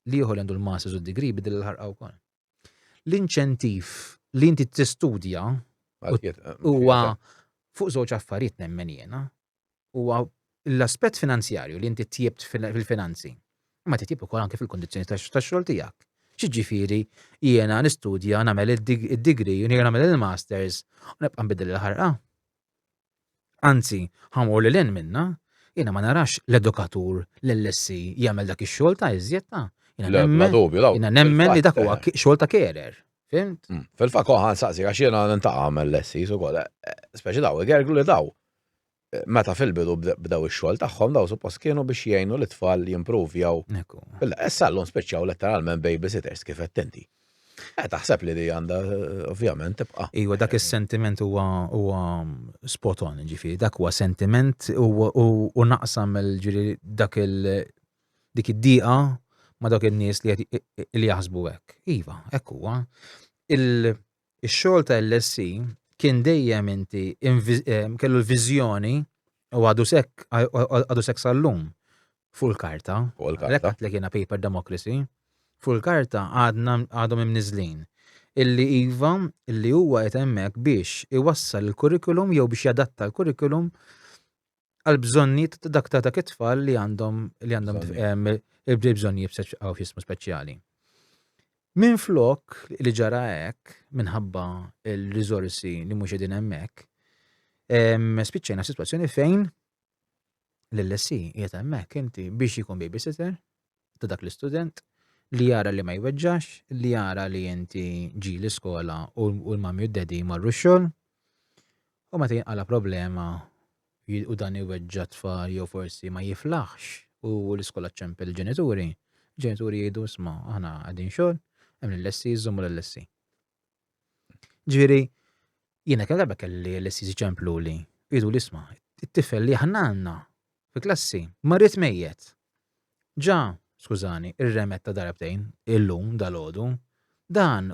li jieħor għandu l-masters u d-degree biddel il-ħarqa wkoll. L-inċentiv li inti tistudja huwa fuq żewġ affarijiet nemmen jiena. huwa l-aspett finanzjarju li inti tjibt fil-finanzi. Ma titjib ukoll anke fil-kondizzjoni tax-xogħol tiegħek. Xiġifieri jiena nistudja nagħmel id-degree u nagħmel il-masters u nibqa' nbiddel il-ħarqa. Anzi, ħamur lil hinn minna, jiena ma narax l-edukatur l-LSE jagħmel dak ix-xogħol ta' iżjed ta' Jiena nemmen li dak huwa xogħol ta' kerer. Fimt? Mm. Fil-fakk oħan saqsi għax jiena nintaqgħu għamel lessi ukoll. Eh, eh, speċi daw, igerglu li daw. Meta fil-bidu bdew ix-xogħol tagħhom dawn suppost kienu biex jgħinu lit-tfal jimpruvjaw. Issa llum spiċċaw letteralment babysitters kif għedt inti. Eh taħseb li di għandha ovvjament tibqa'. Iva dak is-sentiment huwa huwa spot on, ġifieri dak huwa sentiment u naqsam mill ġieli dak il dik id-dieqa ma' dawk in-nies li qed li jaħsbu hekk. Iva, hekk huwa. Il Ix-xogħol ta' LSC kien dejjem inti kellu l-viżjoni u għadu sekk għadu sekk sal-lum fuq il-karta. Fuq il-karta. Lekk għatlek jiena paper democracy. Fuq il-karta għadna għadhom imniżlin. Illi iva, illi huwa qed hemmhekk biex iwassal il-kurrikulum jew biex jadatta l-kurrikulum għal bżonniet ta' dak ta' dak it-tfal li għandhom li għandhom il-bżonnijiet b'sessjismu speċjali. Minn flok li ġara hekk minħabba il-riżorsi li mhux qegħdin hemmhekk, spiċċejna situazzjoni fejn l-LSI qiegħed hemmhekk inti biex jkun babysitter, ta' dak l-istudent, li jara li ma jweġġax, li jara li inti ġi l-iskola u l-mami u d-dedi marru xogħol, u meta jinqala problema u dan iweġġa tfal jew forsi ma jiflaħx u l-iskola ċempel il-ġenituri, ġenituri jgħidu sma, aħna għadin xogħol, hemm l-lessi jżommu l-lessi. Ġviri, jiena kemm darba kelli l-istess ċemplu li jidu l-isma, it-tifel li aħna għandna fi klassi ma rrit mejjet. Ġa, skużani, irremet ta' darbtejn illum dal-għodu, dan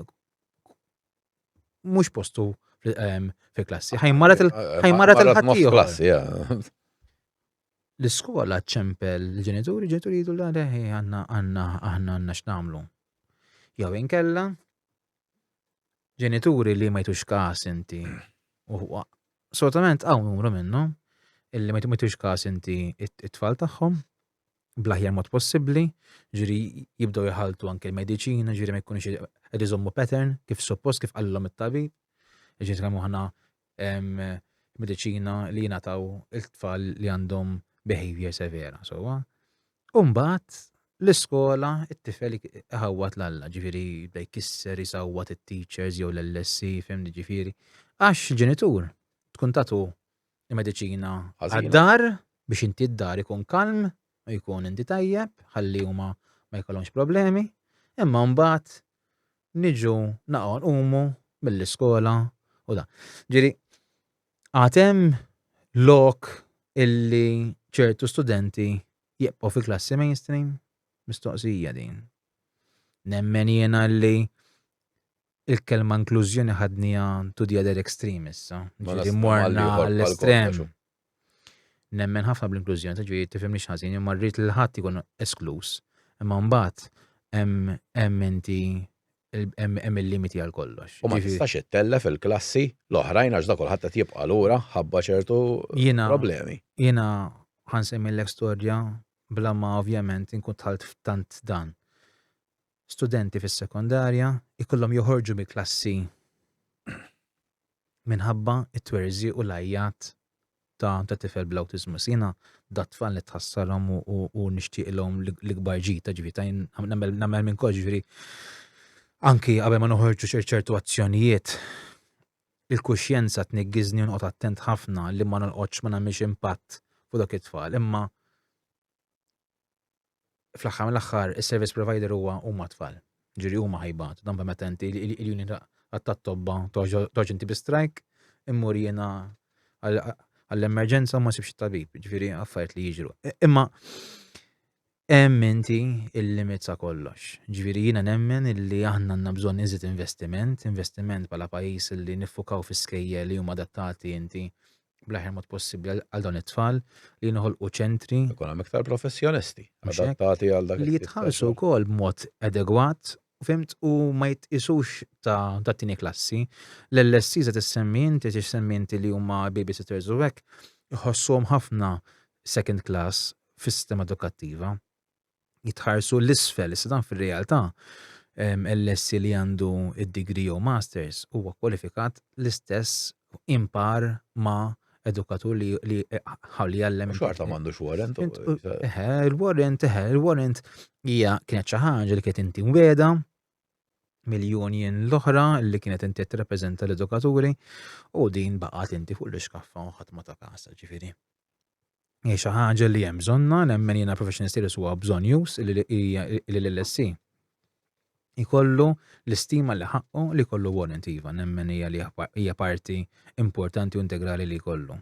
mhux postu ehm, fi klassi, ħajmarat il-ħajmarat il-ħaddieħor. l-iskola ċempel l-ġenituri, ġenituri jgħidu l għadha għanna għanna aħna għanna x'namlu. Jew inkella, ġenituri li ma jtux kas inti, u solitament għaw numru minnu, illi ma jtux kas inti it-tfal tagħhom, blaħjar mod possibli, ġiri jibdow jħaltu anke l-medicina, ġiri ma jkunx id pattern, kif suppost, kif għallom it-tabib, ġiri t-kamu ħana mediċina li jingħataw il-tfal li għandhom behavior severa, sowa. Umbat, l-iskola, it-tifel ħawwat l-alla, ġifiri, bda jkisser, jisawwat it-teachers jew l-LSC, fem ġifiri. Għax il-ġenitur, tkun tatu il-medicina għad-dar biex inti d-dar ikun kalm, u jkun inti tajjeb ħalli huma ma jkollhomx problemi, imma mbagħad niġu naqgħu nqumu mill-iskola u da. Ġiri, għatem lok illi ċertu studenti jibqgħu fi klassi mainstream? Mistoqsija din. Nemmen jiena li Il-kelma inklużjoni ħadnija to the other extreme issa. Ġifieri morna l-estrem. Nemmen ħafna bl-inklużjoni, ta' ġifieri tifhimni x'ħażin, imma rrid li ħadd ikun eskluż. Imma mbagħad hemm inti hemm il-limiti għal kollox. U ma tistax ittella fil-klassi l-oħrajn għax da kulħadd qed jibqa' lura ħabba ċertu problemi. Jiena ħansemmillek storja bla ma ovvjament inkun tħalt f'tant dan. studenti fis-sekondarja jkollhom joħorġu mill-klassi minħabba t-twerżiq u l-għajjat ta' ta' tifel bl-awtiżmu. Jiena dat tfal nitħassalhom u nixtieqilhom l-ikbar ġita ġifi ta' nagħmel minn kollox ġifieri anki qabel ma noħorġu ċertu azzjonijiet il-kuxjenza tniggiżni u noqgħod attent ħafna li ma nolqotx ma nagħmilx impatt fuq dak it-tfal. Imma fl-aħħar mill-aħħar is-service provider huwa huma tfal. Ġifieri huma ħajbatu dan permett inti l-union tat-tobba toġ inti bi strajk immur jiena għall-emerġenza ma sibx tabib, ġifieri affarijiet li jiġru. Imma hemm inti il-limit sa kollox. Ġifieri jiena nemmen illi aħna għandna bżonn iżid investiment, investiment bħala pajjiż li niffukaw fi skejjel li huma adattati inti bl-aħjar mod possibbli għal dawn it-tfal li jinħolqu ċentri. Ikun hemm iktar professjonisti adattati għal dak li jitħallsu wkoll b'mod adegwat fimt u ma jitqisux ta' ta' tini klassi. L-LSC se tissemmi inti xi semmi inti li huma babysitters u hekk iħossuhom ħafna second class fis-sistema edukattiva. jitħarsu l-isfel, issa dan fir-realtà l-lessi li għandu id-degree jew masters huwa kwalifikat l-istess impar ma' edukatur li li ħalli jallem. Xorta m'għandux warrant. Eħe, il-warrant, eħe, il-warrant hija kienet xi ħaġa li kienet inti weda mill-union l-oħra li kienet inti tirrappreżenta l-edukaturi u din baqgħet inti fuq l-iskaffa u ħadd ma ta' kasa ġifieri. Hija xi ħaġa li hemm bżonna, nemmen jiena professional status huwa bżonn jus li l-LSC ikollu l-istima li ħaqqu li kollu warrant iva, nemmen hija li hija parti importanti u integrali li jkollu.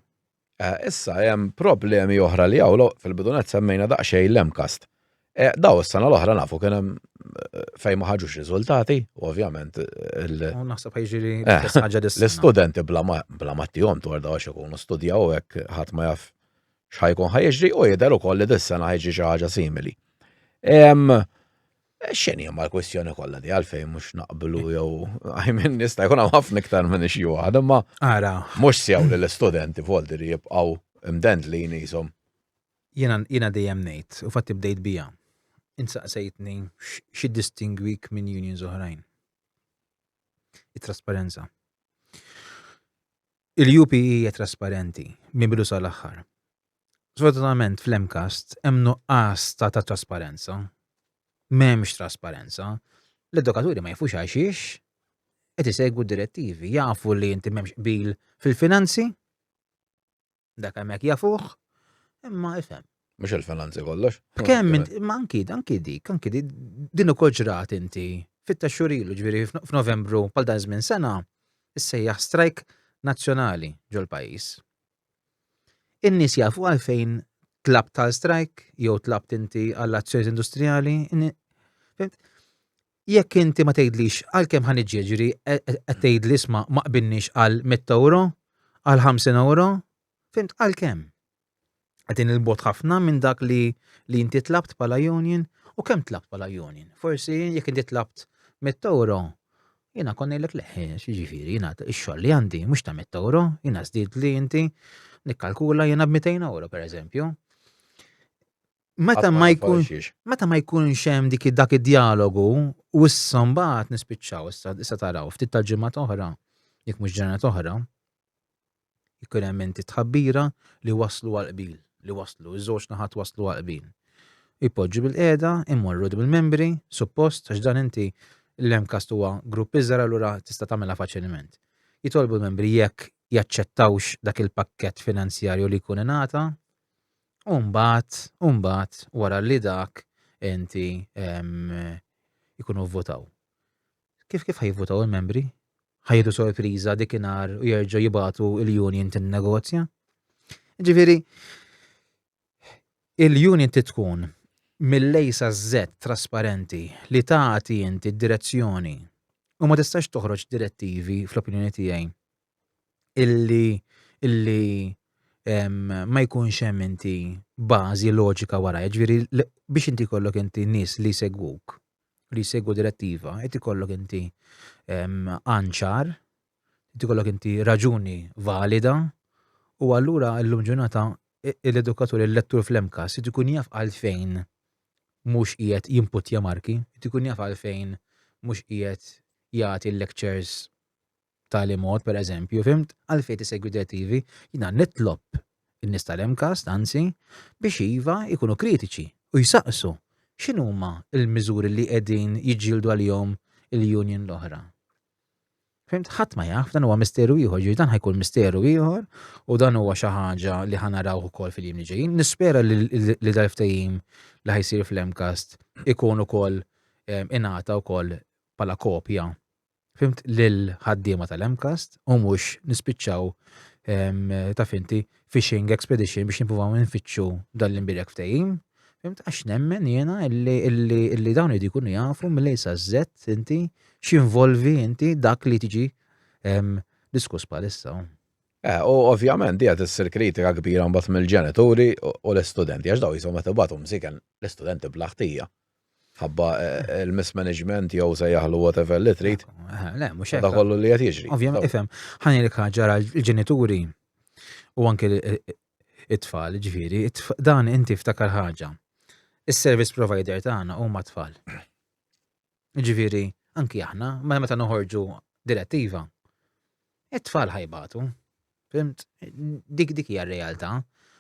Eh, issa hemm problemi oħra li hawn fil-bidunet semmejna daqsxejn l-MCAST. Eh, daw is-sena l-oħra nafu kien hemm eh, fejn ma ħaġux riżultati, ovvjament il- U naħseb ħajġiri Eh, l-istess ħaġa dis l-istudenti bla ma bla ma tihom dwar daw għax ikunu studjaw hekk ħadd ma jaf x'ħajkun ħajġri u jidher ukoll li dis-sena ħajġi xi ħaġa simili. Em, X'inhi ma l-kwistjoni kollha di għalfejn mhux naqblu jew għajmin nista' jkun hawn ħafna iktar minn xi waħda, imma Ara, mhux sew li l-istudenti voldi li jibqgħu mdendlin jisom Jiena, jiena dejjem ngħid, u fatti bdejt biha, int saqsejtni x'iddistingwik minn unions oħrajn. It-trasparenza. Il-UP hija trasparenti minn bidu sal-aħħar. Sfortunatament fl-MCAST hemm nuqqas ta' ta' trasparenza. M'hemmx trasparenza. L-edukaturi ma jafux għaxiex qed isegwu direttivi, jafu li inti m'hemmx qbil fil-finanzi, Dak hemmhekk jafuh, imma ifhem. Mhux il-finanzi kollox. Kemm ma anki anki dik, anki dik din ukoll ġrat inti fitta xurilu ġifieri f'Novembru bħal dan żmien sena issejjaħ strajk nazzjonali ġol-pajjiż. In-nies jafu għalfejn tlab tal strajk jew tlabt inti għall-azzjonijiet industrijali. jekk inti ma tgħidlix għalkemm ħa niġi ġifieri qed tgħidli isma' ma qbilniex għal 100 ewro, għal 50 ewro, fimt għalkemm? Qegħdin il bogħod ħafna minn dak li li inti tlabt bħala union u kemm tlabt bħala union. Forsi jekk inti tlabt 100 ewro, jiena kon ngħidlek leħ, jiġifieri jiena x-xogħol li għandi mhux ta' 100 ewro, jiena żdid li inti nikkalkula jiena b'200 ewro pereżempju. meta ma jkunx meta ma jkunx hemm dik dak id-dialogu u issa mbagħad nispiċċaw issa issa taraw ftit tal-ġimgħat oħra jekk mhux ġranet oħra jkun hemm inti tħabbira li waslu għal qbil li waslu iż-żewġ naħat waslu għal qbil. Ipoġġu bil-qiegħda, immorru bil-membri, suppost għax dan inti l-MCAST huwa grupp iżgħar allura tista' tagħmilha faċilment. Jitolbu l-membri jekk jaċċettawx dak il-pakkett finanzjarju li jkun ingħata U mbagħad, u mbagħad wara li dak enti jkunu votaw. Kif kif ħajvotaw il-membri? Ħajdu sorpriża dik inhar u jerġgħu jibatu il-union tin-negozja? Ġifieri, il-union titkun mill-lejsa z trasparenti li tagħti inti d-direzzjoni u ma tistax toħroġ direttivi fl-opinjoni tiegħi illi illi ma jkunx hemm inti bażi loġika wara, ġifieri biex inti kollok inti nies li jsegwuk, li jsegwu direttiva, qed ikollok inti anċar, qed ikollok inti raġuni valida, u allura llum ġurnata l-edukatur il-lettur fl-emkas, qed ikun jaf għalfejn mhux qiegħed jimputja marki, qed ikun jaf għalfejn mhux qiegħed jagħti lectures b'tali mod, pereżempju, fhimt, għalfejn tisegwi direttivi, jiena nitlob in-nies tal-MCAST, anzi, biex iva, ikunu kritiċi u jsaqsu x'inhuma l-miżuri li qegħdin jiġġieldu għalihom il-union l-oħra. Fhimt, ħadd ma jaf, dan huwa misteru ieħor, ġifieri dan ħajkun misteru ieħor u dan huwa xi ħaġa li ħa narawh ukoll fil-jiem li ġejjin. Nispera li dal-ftehim li ħajsir fl-MCAST ikun ukoll ingħata wkoll bħala kopja fimt lill-ħaddiema tal-MCAST u mhux nispiċċaw ta' finti fishing expedition biex nippruvaw nfittxu dan l-imbirek ftehim. Fimt għax nemmen jiena illi dawn li jkunu jafu mill sa żett inti x'involvi inti dak li tiġi diskuss bħalissa. Eh, u ovvjament dija tissir kritika kbira mbagħad mill-ġenituri u l-istudenti għax daw jisom qed ibatu msiken l-istudenti bl-aħtija. ħabba eh, il-mismanagement jew se jaħlu whatever li trid. Eh, le, mhux hekk. kollu li qed jiġri. Ovvjament ifhem. Ħani li ġara l-ġenituri u anke it-tfal, ġifieri, dan inti ftakar ħaġa. Is-service provider tagħna huma tfal. Ġifieri, anki aħna, ma meta noħorġu direttiva, it-tfal ħajbatu. Fimt? Dik dik hija r-realtà.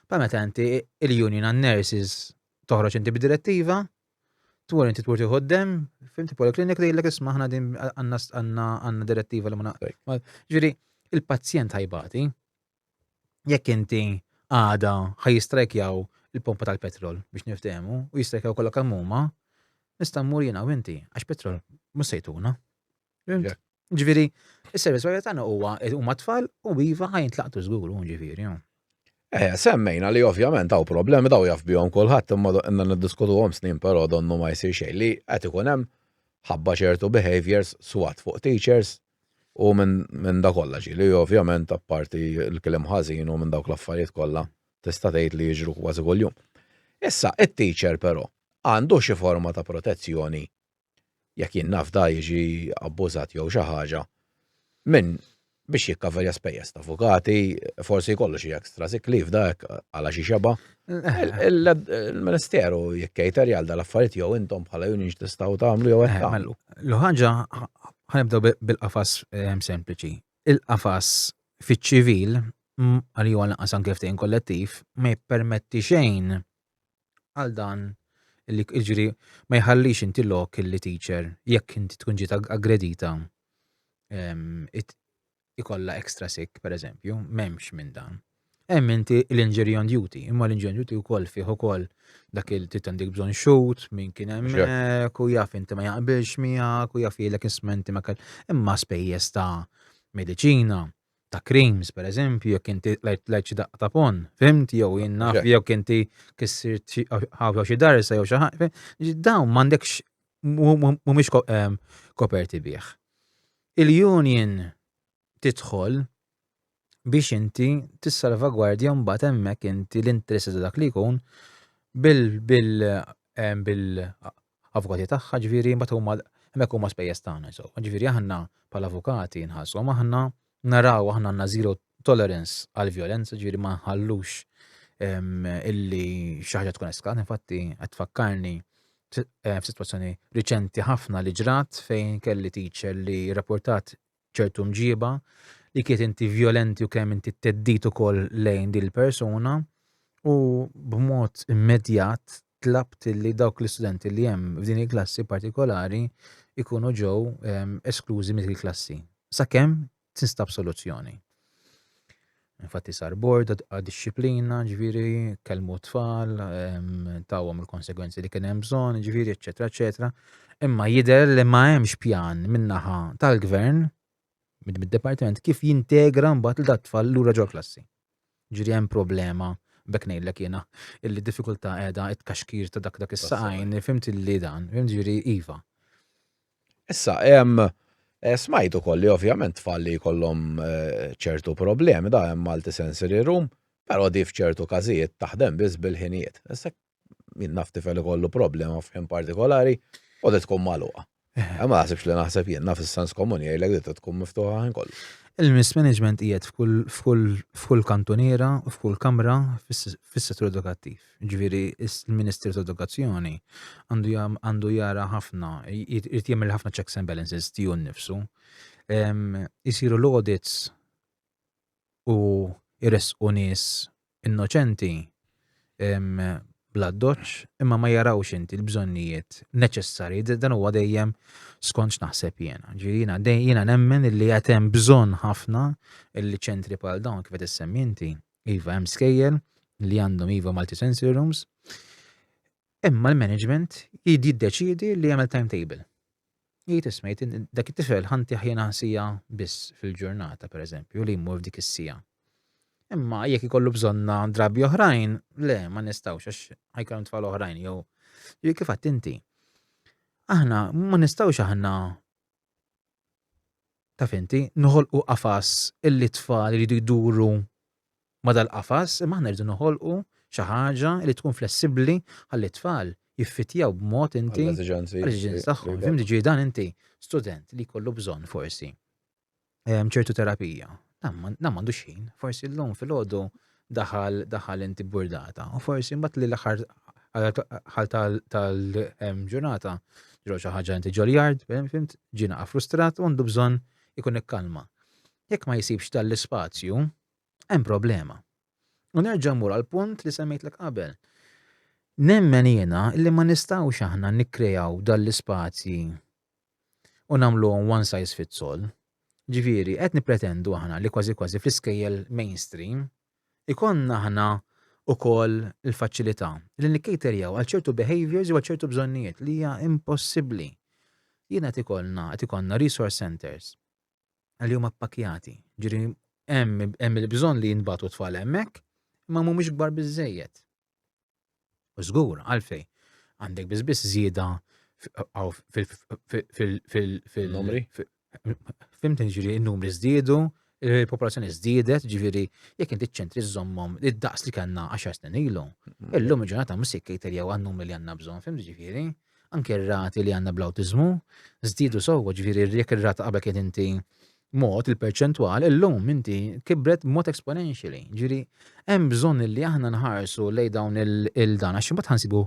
Pa meta inti il-union nurses toħroġ inti b'direttiva, twur inti twur tieħu d-dem, fimti poliklinik li jillek isma ħna din għanna direttiva li ma Ġiri, il-pazjent ħajbati, jekk inti għada ħajistrajkjaw il-pompa tal-petrol biex niftehmu u jistrajkjaw kollha kamuma, nista' mmur jiena u inti għax petrol mhux sejtuna. Ġifieri, is-servizz provider tagħna huwa huma tfal u iva ħajn tlaqtu żgur hu ġifieri. Eh, semmejna li ovvjament hawn problemi daw jaf bihom kulħadd imma inna niddiskutuhom snin però donnu ma jsir xejn li qed ikun hemm ħabba ċertu behaviors swat fuq teachers u minn da kollha ġi li ovvjament apparti l-kliem ħażin u minn dawk l-affarijiet kollha tista' tgħid li jiġru kważi kuljum. Issa, it-teacher però għandu xi forma ta' protezzjoni jekk jien nafda jiġi abbużat jew xi ħaġa, minn biex jikkaverja spejjeż ta' avukati, forsi jkollu xi ekstra sick leave da hekk għala xi xeba. Il-Ministeru jikkejter jgħal dal-affarijiet jew intom bħala union tistgħu tagħmlu jew hekk tagħmlu. L-ħaġa ħanibdew bil-qafas ehm, sempliċi. Il-qafas fiċ-ċivil għal jew għal anke ftehim kollettiv ma jippermetti xejn għal dan li jiġri ma jħallix inti lok li teacher jekk inti tkun ġiet aggredita ikolla extra sick per eżempju, memx minn dan. Hemm inti l-injury on duty, imma l-injury on duty wkoll fih ukoll dak il titandik bżon xut, min kien hemmhekk, u jaf inti ma jaqbilx miegħek, u jaf jgħidlek ismenti ma kell. Imma spejjeż ta' mediċina, ta' creams, per eżempju, jekk inti lajt xi daqqa ta' pon, fimt, jew jien naf, jew inti kissir ħawxa xi darsa jew xi ħaġa. Dawn m'għandekx mhumiex koperti bih. Il-union tidħol biex inti tissalvagwardja mbagħad hemmhekk inti l-interess ta' dak li jkun bil bil bil avukati tagħha, ġifieri mbagħad huma hemmhekk huma spejjeż tagħna insomma. Ġifieri aħna bħala avukati nħallsuhom aħna, naraw aħna għandna zero tolerance għal violenza, ġifieri ma nħallux ehm, illi xi ħaġa tkun eskat, infatti qed tfakkarni eh, f'sitwazzjoni riċenti ħafna li ġrat fejn kelli teacher li rapportat ċertu mġiba, li kiet inti vjolenti u kemm inti teddit ukoll lejn din il-persuna u b'mod immedjat tlabt li dawk l-istudenti li hemm f'din il-klassi partikolari ikunu ġew ehm, esklużi mill-klassi. Sakemm tinstab soluzzjoni. Infatti sar bord għad disċiplina, ġviri, kelmu t-tfal, tawhom il-konsegwenzi li kien hemm bżonn, ġviri, eċetera, eċetera. Imma jidher li ma hemmx pjan minnaħa tal-gvern mid-departiment kif jintegra mbagħad l tfal lura ġol klassi. Ġiri hemm problema bekk ngħidlek jiena illi diffikultà qiegħda it-kaxkir ta' dak dak is-saqajn, fimt li dan, fimt ġiri iva. Issa, eh, smajt ukoll li ovvjament tfal li jkollhom eh, ċertu problemi da hemm Malti Sensory Room, però di f'ċertu każijiet taħdem biss bil-ħinijiet. Issa min naf tifel ikollu problema f'ħin partikolari u di tkun magħluqa. Eh, ma naħsibx li naħseb jien naf is-sens komuni jgħidlek li tkun miftuħa ħin kollu. Il-mismanagement qiegħed f'kull kantuniera u f'kull kamra fis-settur edukattiv. Jiġifieri l-Ministru ta' Edukazzjoni għandu għandu jara ħafna, jrid jagħmel ħafna checks and balances tiegħu nnifsu. Isiru l-audits u jresqu nies innoċenti bl-addoċ imma ma jarawx inti l-bżonnijiet neċessari, dan huwa dejjem skont naħseb jiena. Ġiena jiena nemmen li qed hemm bżonn ħafna li ċentri bħal dawn kif qed issemmi inti Iva, hemm skejjel li għandhom iva multi sensory rooms. Imma l-management jiddeċidi li jagħmel timetable. Jgħid isma' dak it-tifel ħanti ħjena sija biss fil-ġurnata pereżempju li jmur f'dik is-sija. Imma jekk ikollu bżonna drabi oħrajn, le ma nistgħux għax ħajkun tfal oħrajn jew kif inti. Aħna ma nistgħux aħna taf inti, noħolqu qafas illi t-tfal iridu jduru ma' dal-qafas, imma aħna rridu noħolqu xi ħaġa li tkun flessibbli ħalli t-tfal jiffittjaw b'mod inti għall-eżiġenzi tagħhom. Fimtni? Ġifieri dan inti student li jkollu bżonn forsi ċertu terapija. Dan m'għandux ħin, forsi llum filgħodu daħal daħal inti burdata, u forsi mbagħad li l-aħħar ħal tal-ġurnata ġro xi ħaġa inti ġoljard, fimt, ġina frustrat u għandu bżonn ikun ikkalma. Jekk ma jsibx tal-ispazju, hemm problema. U nerġa' mur għal punt li semmejtlek qabel. Nemmen jiena li ma nistgħux aħna nikkrejaw dal-ispazji u nagħmluhom one size fits all. Ġifieri, qed nippretendu aħna li kważi kważi fl-iskejjel mainstream ikollna aħna wkoll il-faċilità li nikcaterjaw għal ċertu behaviours jew għal ċertu bżonnijiet li hija impossibbli. Jiena qed ikollna qed ikollna resource centers li huma ppakkjati. Ġifieri hemm il-bżonn li jinbatu tfal hemmhekk imma mhumiex kbar biżejjed. U żgur għalfej għandek biss biss żieda fil-numri. Fimt ġiri n-numri żdiedu, il-popolazzjoni żdiedet, ġifieri jekk inti ċentri żommhom id-daqs li kellna 10 snin ilu. Mm. Illum il-ġurnata mhux se jkejterjaw għan-numri li għandna bżonn, fimt ġifieri. Anke r-rati li għandna bl-awtiżmu żdiedu sewwa, ġifieri jekk ir-rata qabel kien inti mod, il-perċentwal, illum inti kibret b'mod exponentially. Ġiri, hemm bżonn li aħna nħarsu lej dawn il-dan, għax imbagħad ħansibu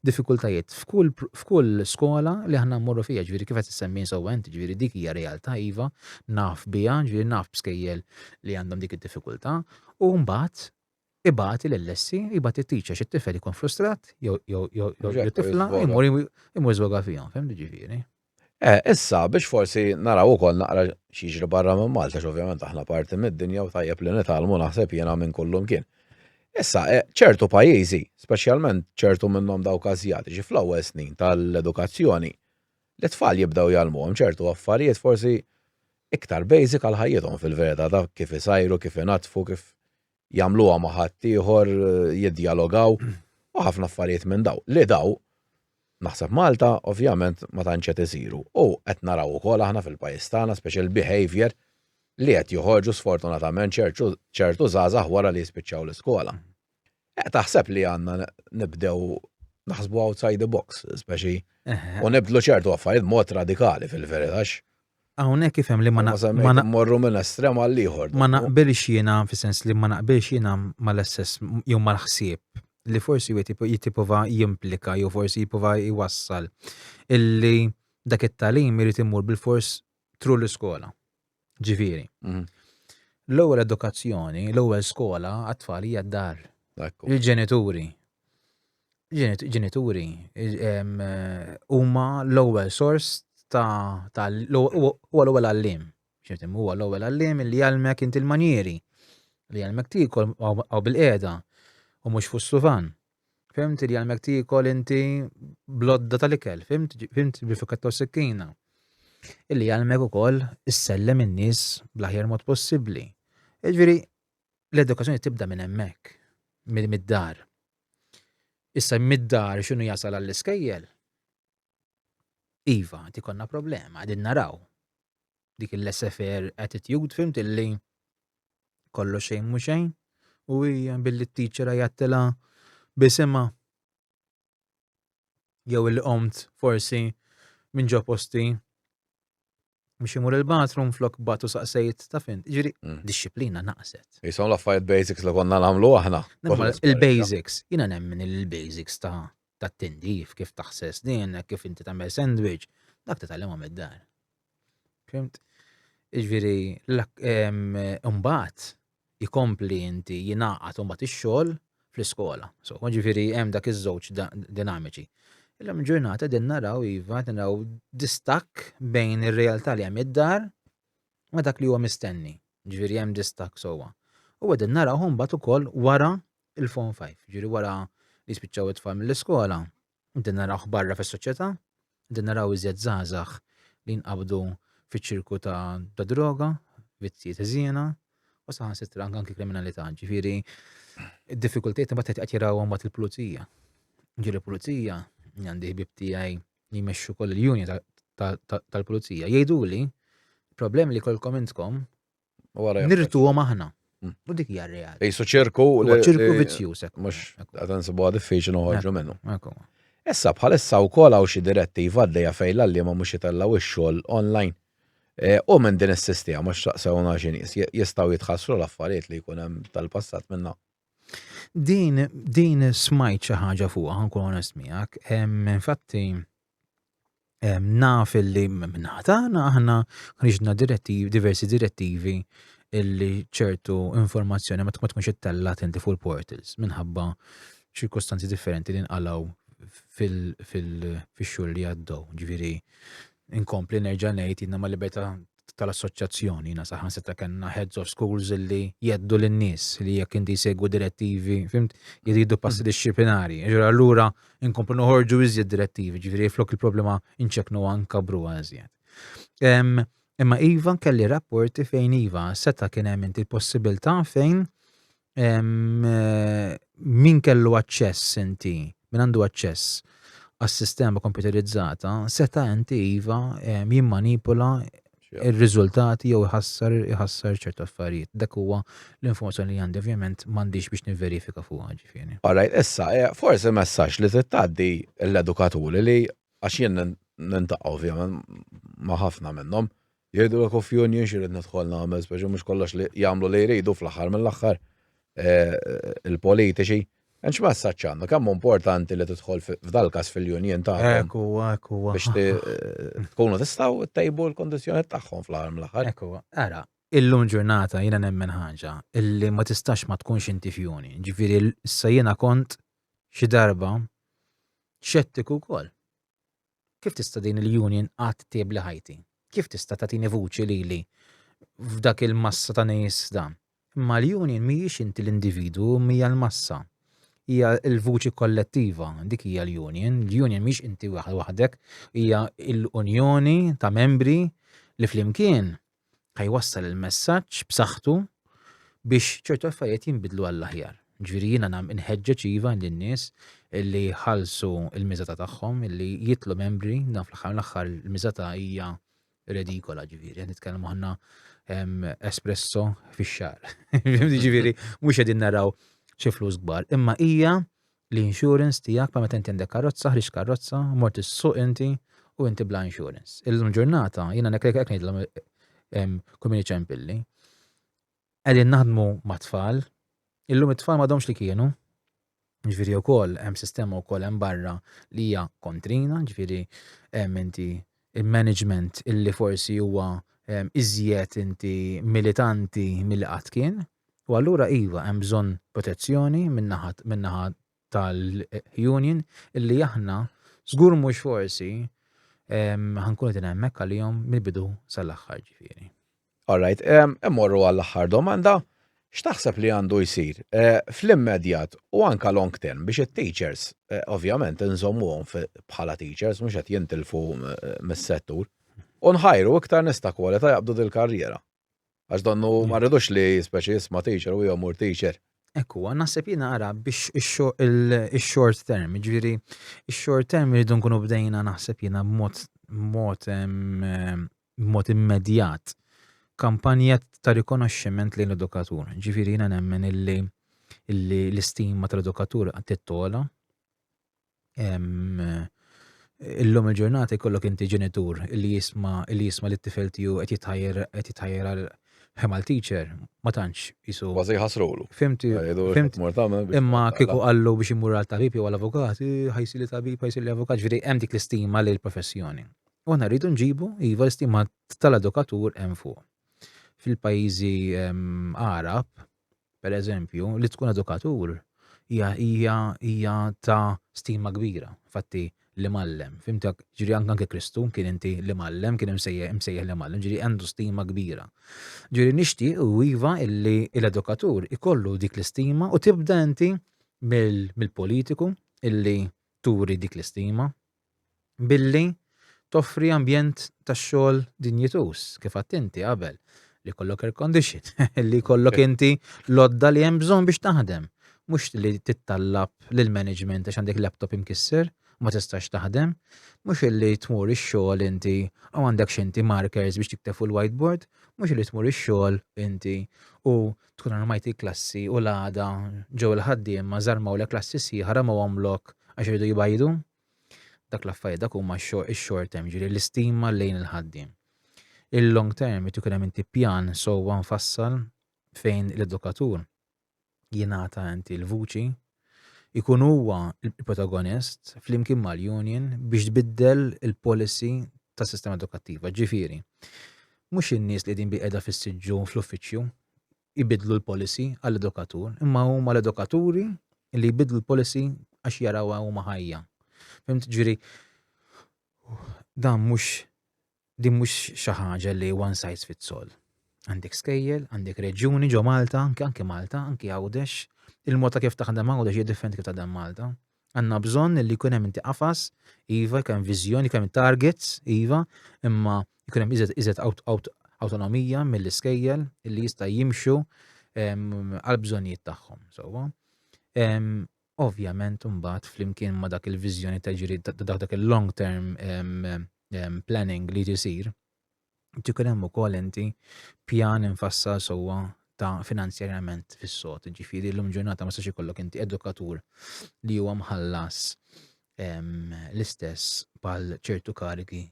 diffikultajiet f'kull skola li aħna mmorru fija, ġviri kif qed issemmi insewwent, ġviri dik hija realtà iva, naf biha, ġviri naf b'skejjel li għandhom dik id-diffikultà, u mbagħad ibati lil Lessi, jibati t-teacher xi tifel jkun frustrat, jew tifla, jmur jmur żwoga fihom, fehmni ġifieri. Eh, issa biex forsi naraw ukoll naqra x'jiġri barra minn Malta, x'ovvjament aħna parti mid-dinja u tajjeb li nitgħallmu naħseb jiena minn kullum kien. Issa, eh, ċertu pajjiżi, speċjalment ċertu minnhom dawk Asjatiċi fl-ewwel snin tal-edukazzjoni, li tfal jibdew jgħallmuhom ċertu affarijiet forsi iktar basic għal ħajjithom fil-verità ta' kif isajru, kif inatfu, kif jagħmluha ma' ħadd ieħor, jiddjalogaw u ħafna affarijiet minn daw. Li daw naħseb Malta ovvjament ma tantx qed isiru. U qed naraw ukoll aħna fil-pajjiż tagħna speċjal behavior li qed joħorġu sfortunatament ċertu żgħażagħ wara li jispiċċaw l-iskola. Eh, taħseb li għandna nibdew naħsbu outside the box, speċi, u nibdlu ċertu affarijiet mod radikali fil-veritax. Hawnhekk ifhem li ma morru minn estrem għal ieħor. Ma naqbilx jiena fis-sens li ma naqbilx jiena mal-assess jew mal-ħsieb li forsi jitipova jimplika jew forsi jipova jwassal illi dak it-talim irid imur bil-fors tru l-iskola. Ġifieri. Mhm. L-ewwel edukazzjoni, l-ewwel skola għat-tfal hija d-dar. Il-ġenituri. ġenituri huma l-ewwel sors ta' huwa l-ewwel għalliem. Xiftim, huwa l-ewwel għalliem li jgħalmek inti l-manjieri, li jgħalmek tikol għaw bil-qeda u mhux fuq suvan. Fimt li jgħalmek tikol inti blodda tal-ikel, fimt fimt bil-fuketta u sikkina. Illi jgħalmek ukoll issellem in-nies bl-aħjar mod possibbli. Ġifieri, l-edukazzjoni tibda minn hemmhekk, mid-dar. Issa mid-dar x'inhu jasal għall-iskejjel? Iva, ti konna problema, għadin naraw. Dik il-lessefer attitude fimt illi kollu xejn mu xejn u hija billi t-teacher jattila bisima jew il-qomt forsi minn ġo posti Mux imur il-bathroom flok batu saqsejt ta' fin. Ġiri, mm. disciplina naqset. Jisom l-affarijiet basics li konna namlu aħna. Il-basics, jina nemmen il-basics ta' ta' tindif, kif taħses din, kif inti tagħmel sandwich, dak ta' tal-imam id-dar. Fimt? Iġviri, l-umbat, jkompli inti jingħaqad u mbagħad ix-xogħol fl-iskola. So, ġifieri hemm dak iż-żewġ dinamiċi. Illum ġurnata din naraw iva qed naraw distakk bejn ir-realtà li hemm id-dar ma dak li huwa mistenni. Ġifieri hemm distakk sewwa. U qegħdin naraw mbagħad ukoll wara il-Form 5, ġifieri wara li spiċċaw it-tfal mill-iskola, Din narawh barra fis-soċjetà, din naraw iżjed żgħażagħ li jinqabdu fiċ-ċirku ta' droga, vizzji ta' żiena, u saħansitra anki kriminalità. Ġifieri, id-diffikultajiet imbagħad qed jarawhom mbagħad il-pulizija. Ġieli pulizija għandi ħbib tiegħi li jmexxu koll il-unja tal-pulizija. Jgħiduli, problem li kolkom intkom Nirtuhom aħna. Mm. U dik hija realtà. Ejsu ċirku ċirku vizzjuż hekk. Mhux qed insibuha diffiċli noħorġu minnu. Issa bħalissa wkoll hawn xi direttiva għaddejja fejn l-għalliema mhux jitellgħu x-xogħol online. E, u minn din is-sistema mhux taqsewna xi nies jistgħu jitħassru l-affarijiet li jkun hemm tal-passat minna. Din din smajt xi ħaġa fuqha ħankun onest miegħek, infatti naf illi minnaħa tagħna aħna ħriġna direttivi, diversi direttivi illi ċertu informazzjoni ma tkunx ittella tenti fuq il-portals minħabba ċirkostanzi differenti li nqalaw fil-xhur li għaddew. Ġifieri inkompli nerġa' ngħid jiena ma' libertà tal-assoċjazzjoni, jiena saħansitra kellna heads of schools li jeddu lin-nies li jekk inti jsegwu direttivi, fimt, jridu passi mm. disciplinari. Ġura allura inkomplu noħorġu iżjed direttivi, ġifieri flok il-problema inċeknu anka bru għażjed. Imma Iva kelli rapporti fejn Iva seta kien hemm inti l-possibilità fejn min kellu aċċess inti, min għandu aċċess għas-sistema kompjuterizzata, seta' inti iva jimmanipula il-riżultati jew iħassar iħassar ċertu affarijiet. Dak huwa l-informazzjoni li għandi ovvjament m'għandix biex niverifika fuq ġifieri. Alright, issa eh, forsi messaġġ li tittaddi l-edukaturi li għax jien nintaqgħu ovvjament ma' ħafna minnhom Jgħidulek u f'union xi rrid nidħol nagħmel, speċi mhux kollox li jagħmlu li jridu fl-aħħar mill-aħħar eh, il-politiċi. Enx messaġġ għandna, kemm importanti li tidħol f'dal-każ fil-union tagħhom. Ekku, ekku. Biex eh, tkunu tistgħu ttejbu l-kondizzjonijiet tagħhom fl-aħħar mill-aħħar. Ekku, ara, illum ġurnata jiena nemmen ħaġa illi ma tistax ma tkunx inti fjuni. Ġifieri issa jiena kont xi darba xettiku wkoll. Kif tista' din il-union qatt tibli ħajti? Kif tista' tagħtini vuċi lili f'dak il-massa ta' nies da? Imma l-union mhijiex inti l-individwu, imma hija l-massa. Hija l-vuċi kollettiva, dik hija l-union. L-union mhijiex inti waħdek, hija l-unjoni ta' membri li flimkien ħa jwassal il-messaġġ b'saħħtu biex ċertu affarijiet jinbidlu għall-aħjar. Ġifieri jiena nam inħeġġeġ iva lin-nies illi ħalsu l-miżata tagħhom illi jitlu membri dan fl-aħħar l-aħħar il-miżata hija redikola ġifieri qed nitkellmu aħna espresso fix-xar. ġifieri mhux qegħdin naraw xi flus kbar, imma hija l-insurance tiegħek bħal meta inti għandek karozza, ħriġt karozza, mort is-suq inti u inti bla insurance. Illum ġurnata jiena nek hekk ngħidilhom kull min iċempilli. Qegħdin naħdmu mat-tfal, illum it-tfal m'għadhomx li kienu, ġviri u koll, hemm sistema u koll hemm barra li hija kontrina, ġviri hemm inti il-management illi forsi huwa iżjed inti militanti mill-qat kien, U allura iva hemm bżonn protezzjoni min-naħa min-naħa tal-union illi aħna żgur mhux forsi ħankunu din hemmhekk għalihom mill-bidu sal-aħħar ġifieri. All right, immorru għall-aħħar domanda. X'taħseb li għandu jsir eh, fl-immedjat u anka long term biex it-teachers, eh, ovvjament, nżommuhom bħala teachers mhux qed jintilfu eh, mis-settur u nħajru iktar nista' kwalità jaqbdu dil-karriera. Għax donnu ma rridux li speċi jisma teacher u jomur teacher. Ekku, naħseb jina għara biex il-short term, ġviri, il-short term rridu nkunu bdejna naħseb jina b'mod b'mod immedjat kampanja ta' rikonoxximent lejn l-edukatur. Ġviri, jina nemmen illi l-istima tal-edukatur għattit tola, Illum il-ġurnata jkollok inti ġenitur li jisma li jisma li t-tifel tiegħu qed jitħajjar qed jitħajjar għal ħemal teacher, ma tantx isu. Kważi ħasrulu. Fimti, fimt. Imma kieku qallu biex imur għal tabib jew għal avukat, ħajsi li tabib, ħajsi li avukat, ġifieri hemm dik l-istima lil professjoni. U aħna rridu nġibu iva l-istima tal-edukatur hemm fuq. Fil-pajjiżi Arab, per eżempju, li tkun edukatur hija hija hija ta' stima kbira, fatti li mallem, fimtek, ġiri anke Kristu kien inti li mallem, kien imsejjaħ li mallem, ġiri għandu stima kbira. Ġiri nixti u iva illi l-edukatur ikollu dik l-istima u tibda inti mill-politiku illi turi dik l-istima, billi toffri ambjent tax-xogħol dinjituż, kif għadt inti qabel, li jkollok air condition, li jkollok inti l-għodda li hemm bżonn biex taħdem. Mhux li tittallab lill-management għax għandek laptop imkisser u ma tistax taħdem. Mhux li tmur ix-xogħol inti u għandek x'inti markers biex tikteb fuq il-whiteboard. Mhux li tmur ix-xogħol inti u tkun armajt il-klassi u l-għada ġew il-ħaddiema żarmawlek klassi sieħa ramewhomlok għax iridu jbajdu. Dak l-affarijiet dak huma x-short term, ġieli l-istima lejn il-ħaddiem. Il-long term irid ikun hemm inti pjan sewwa nfassal fejn l-edukatur jingħata inti l-vuċi ikun huwa l-protagonist flimkien mal-union biex tbiddel il-policy tas-sistema edukattiva. Ġifieri, mhux in-nies li qegħdin bil-qiegħda fis-siġġu fl-uffiċċju jbidlu l-policy għall-edukatur, imma huma l-edukaturi li jbidlu l-policy għax jaraw huma ħajja. Fimt ġifieri dan mhux Din mhux xi ħaġa li one size fits all. Għandek skejjel, għandek reġjuni ġo Malta, anke anke Malta, anke Għawdex, il-mod ta' kif taħdem Għawdex hija differenti kif taħdem Malta. Għandna bżonn li jkun hemm inti qafas, iva, jkun hemm viżjoni, jkun hemm targets, iva, imma jkun hemm iżed iżed awtonomija mill-iskejjel li jista' jimxu għal bżonnijiet tagħhom, sewwa. Ovvjament imbagħad flimkien ma' dak il-viżjoni ta' ġiri dak il-long term ehm, planning li tisir, tkun hemm ukoll inti pjan infassal sewwa ta' finanzjarjament fis-sod. Ġifieri llum ġurnata ma sax ikollok inti edukatur li huwa mħallas ehm, l-istess bħal ċertu karigi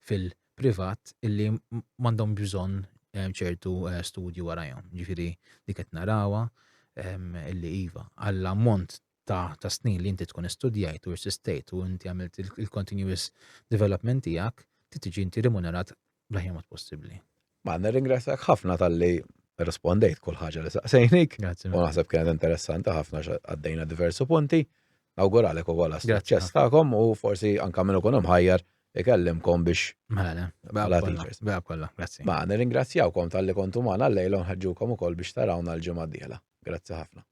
fil-privat illi m'għandhom bżonn ehm, ċertu eh, studju warajhom. Ġifieri dik qed narawha ehm, illi iva għall-ammont ta' ta' snin li inti tkun istudjajt u irsistejt u inti għamilt il-continuous development tiegħek ti tiġi inti rimunerat bl-aħjar mod possibbli. Ma nirringrazzjak ħafna tal-li rispondejt kull ħaġa li saqsejnik. Grazie. U naħseb kienet interessanti ħafna għaddejna diversi punti. Nawguralek u għala suċċess tagħkom u forsi anka minn ikun ħajjar ikellimkom biex. Mela, bela kollha, grazzi. Ma nirringrazzjawkom tal-li kontu magħna llejla nħeġġukom ukoll biex tarawna l-ġimgħa d-dieħla. Grazzi ħafna.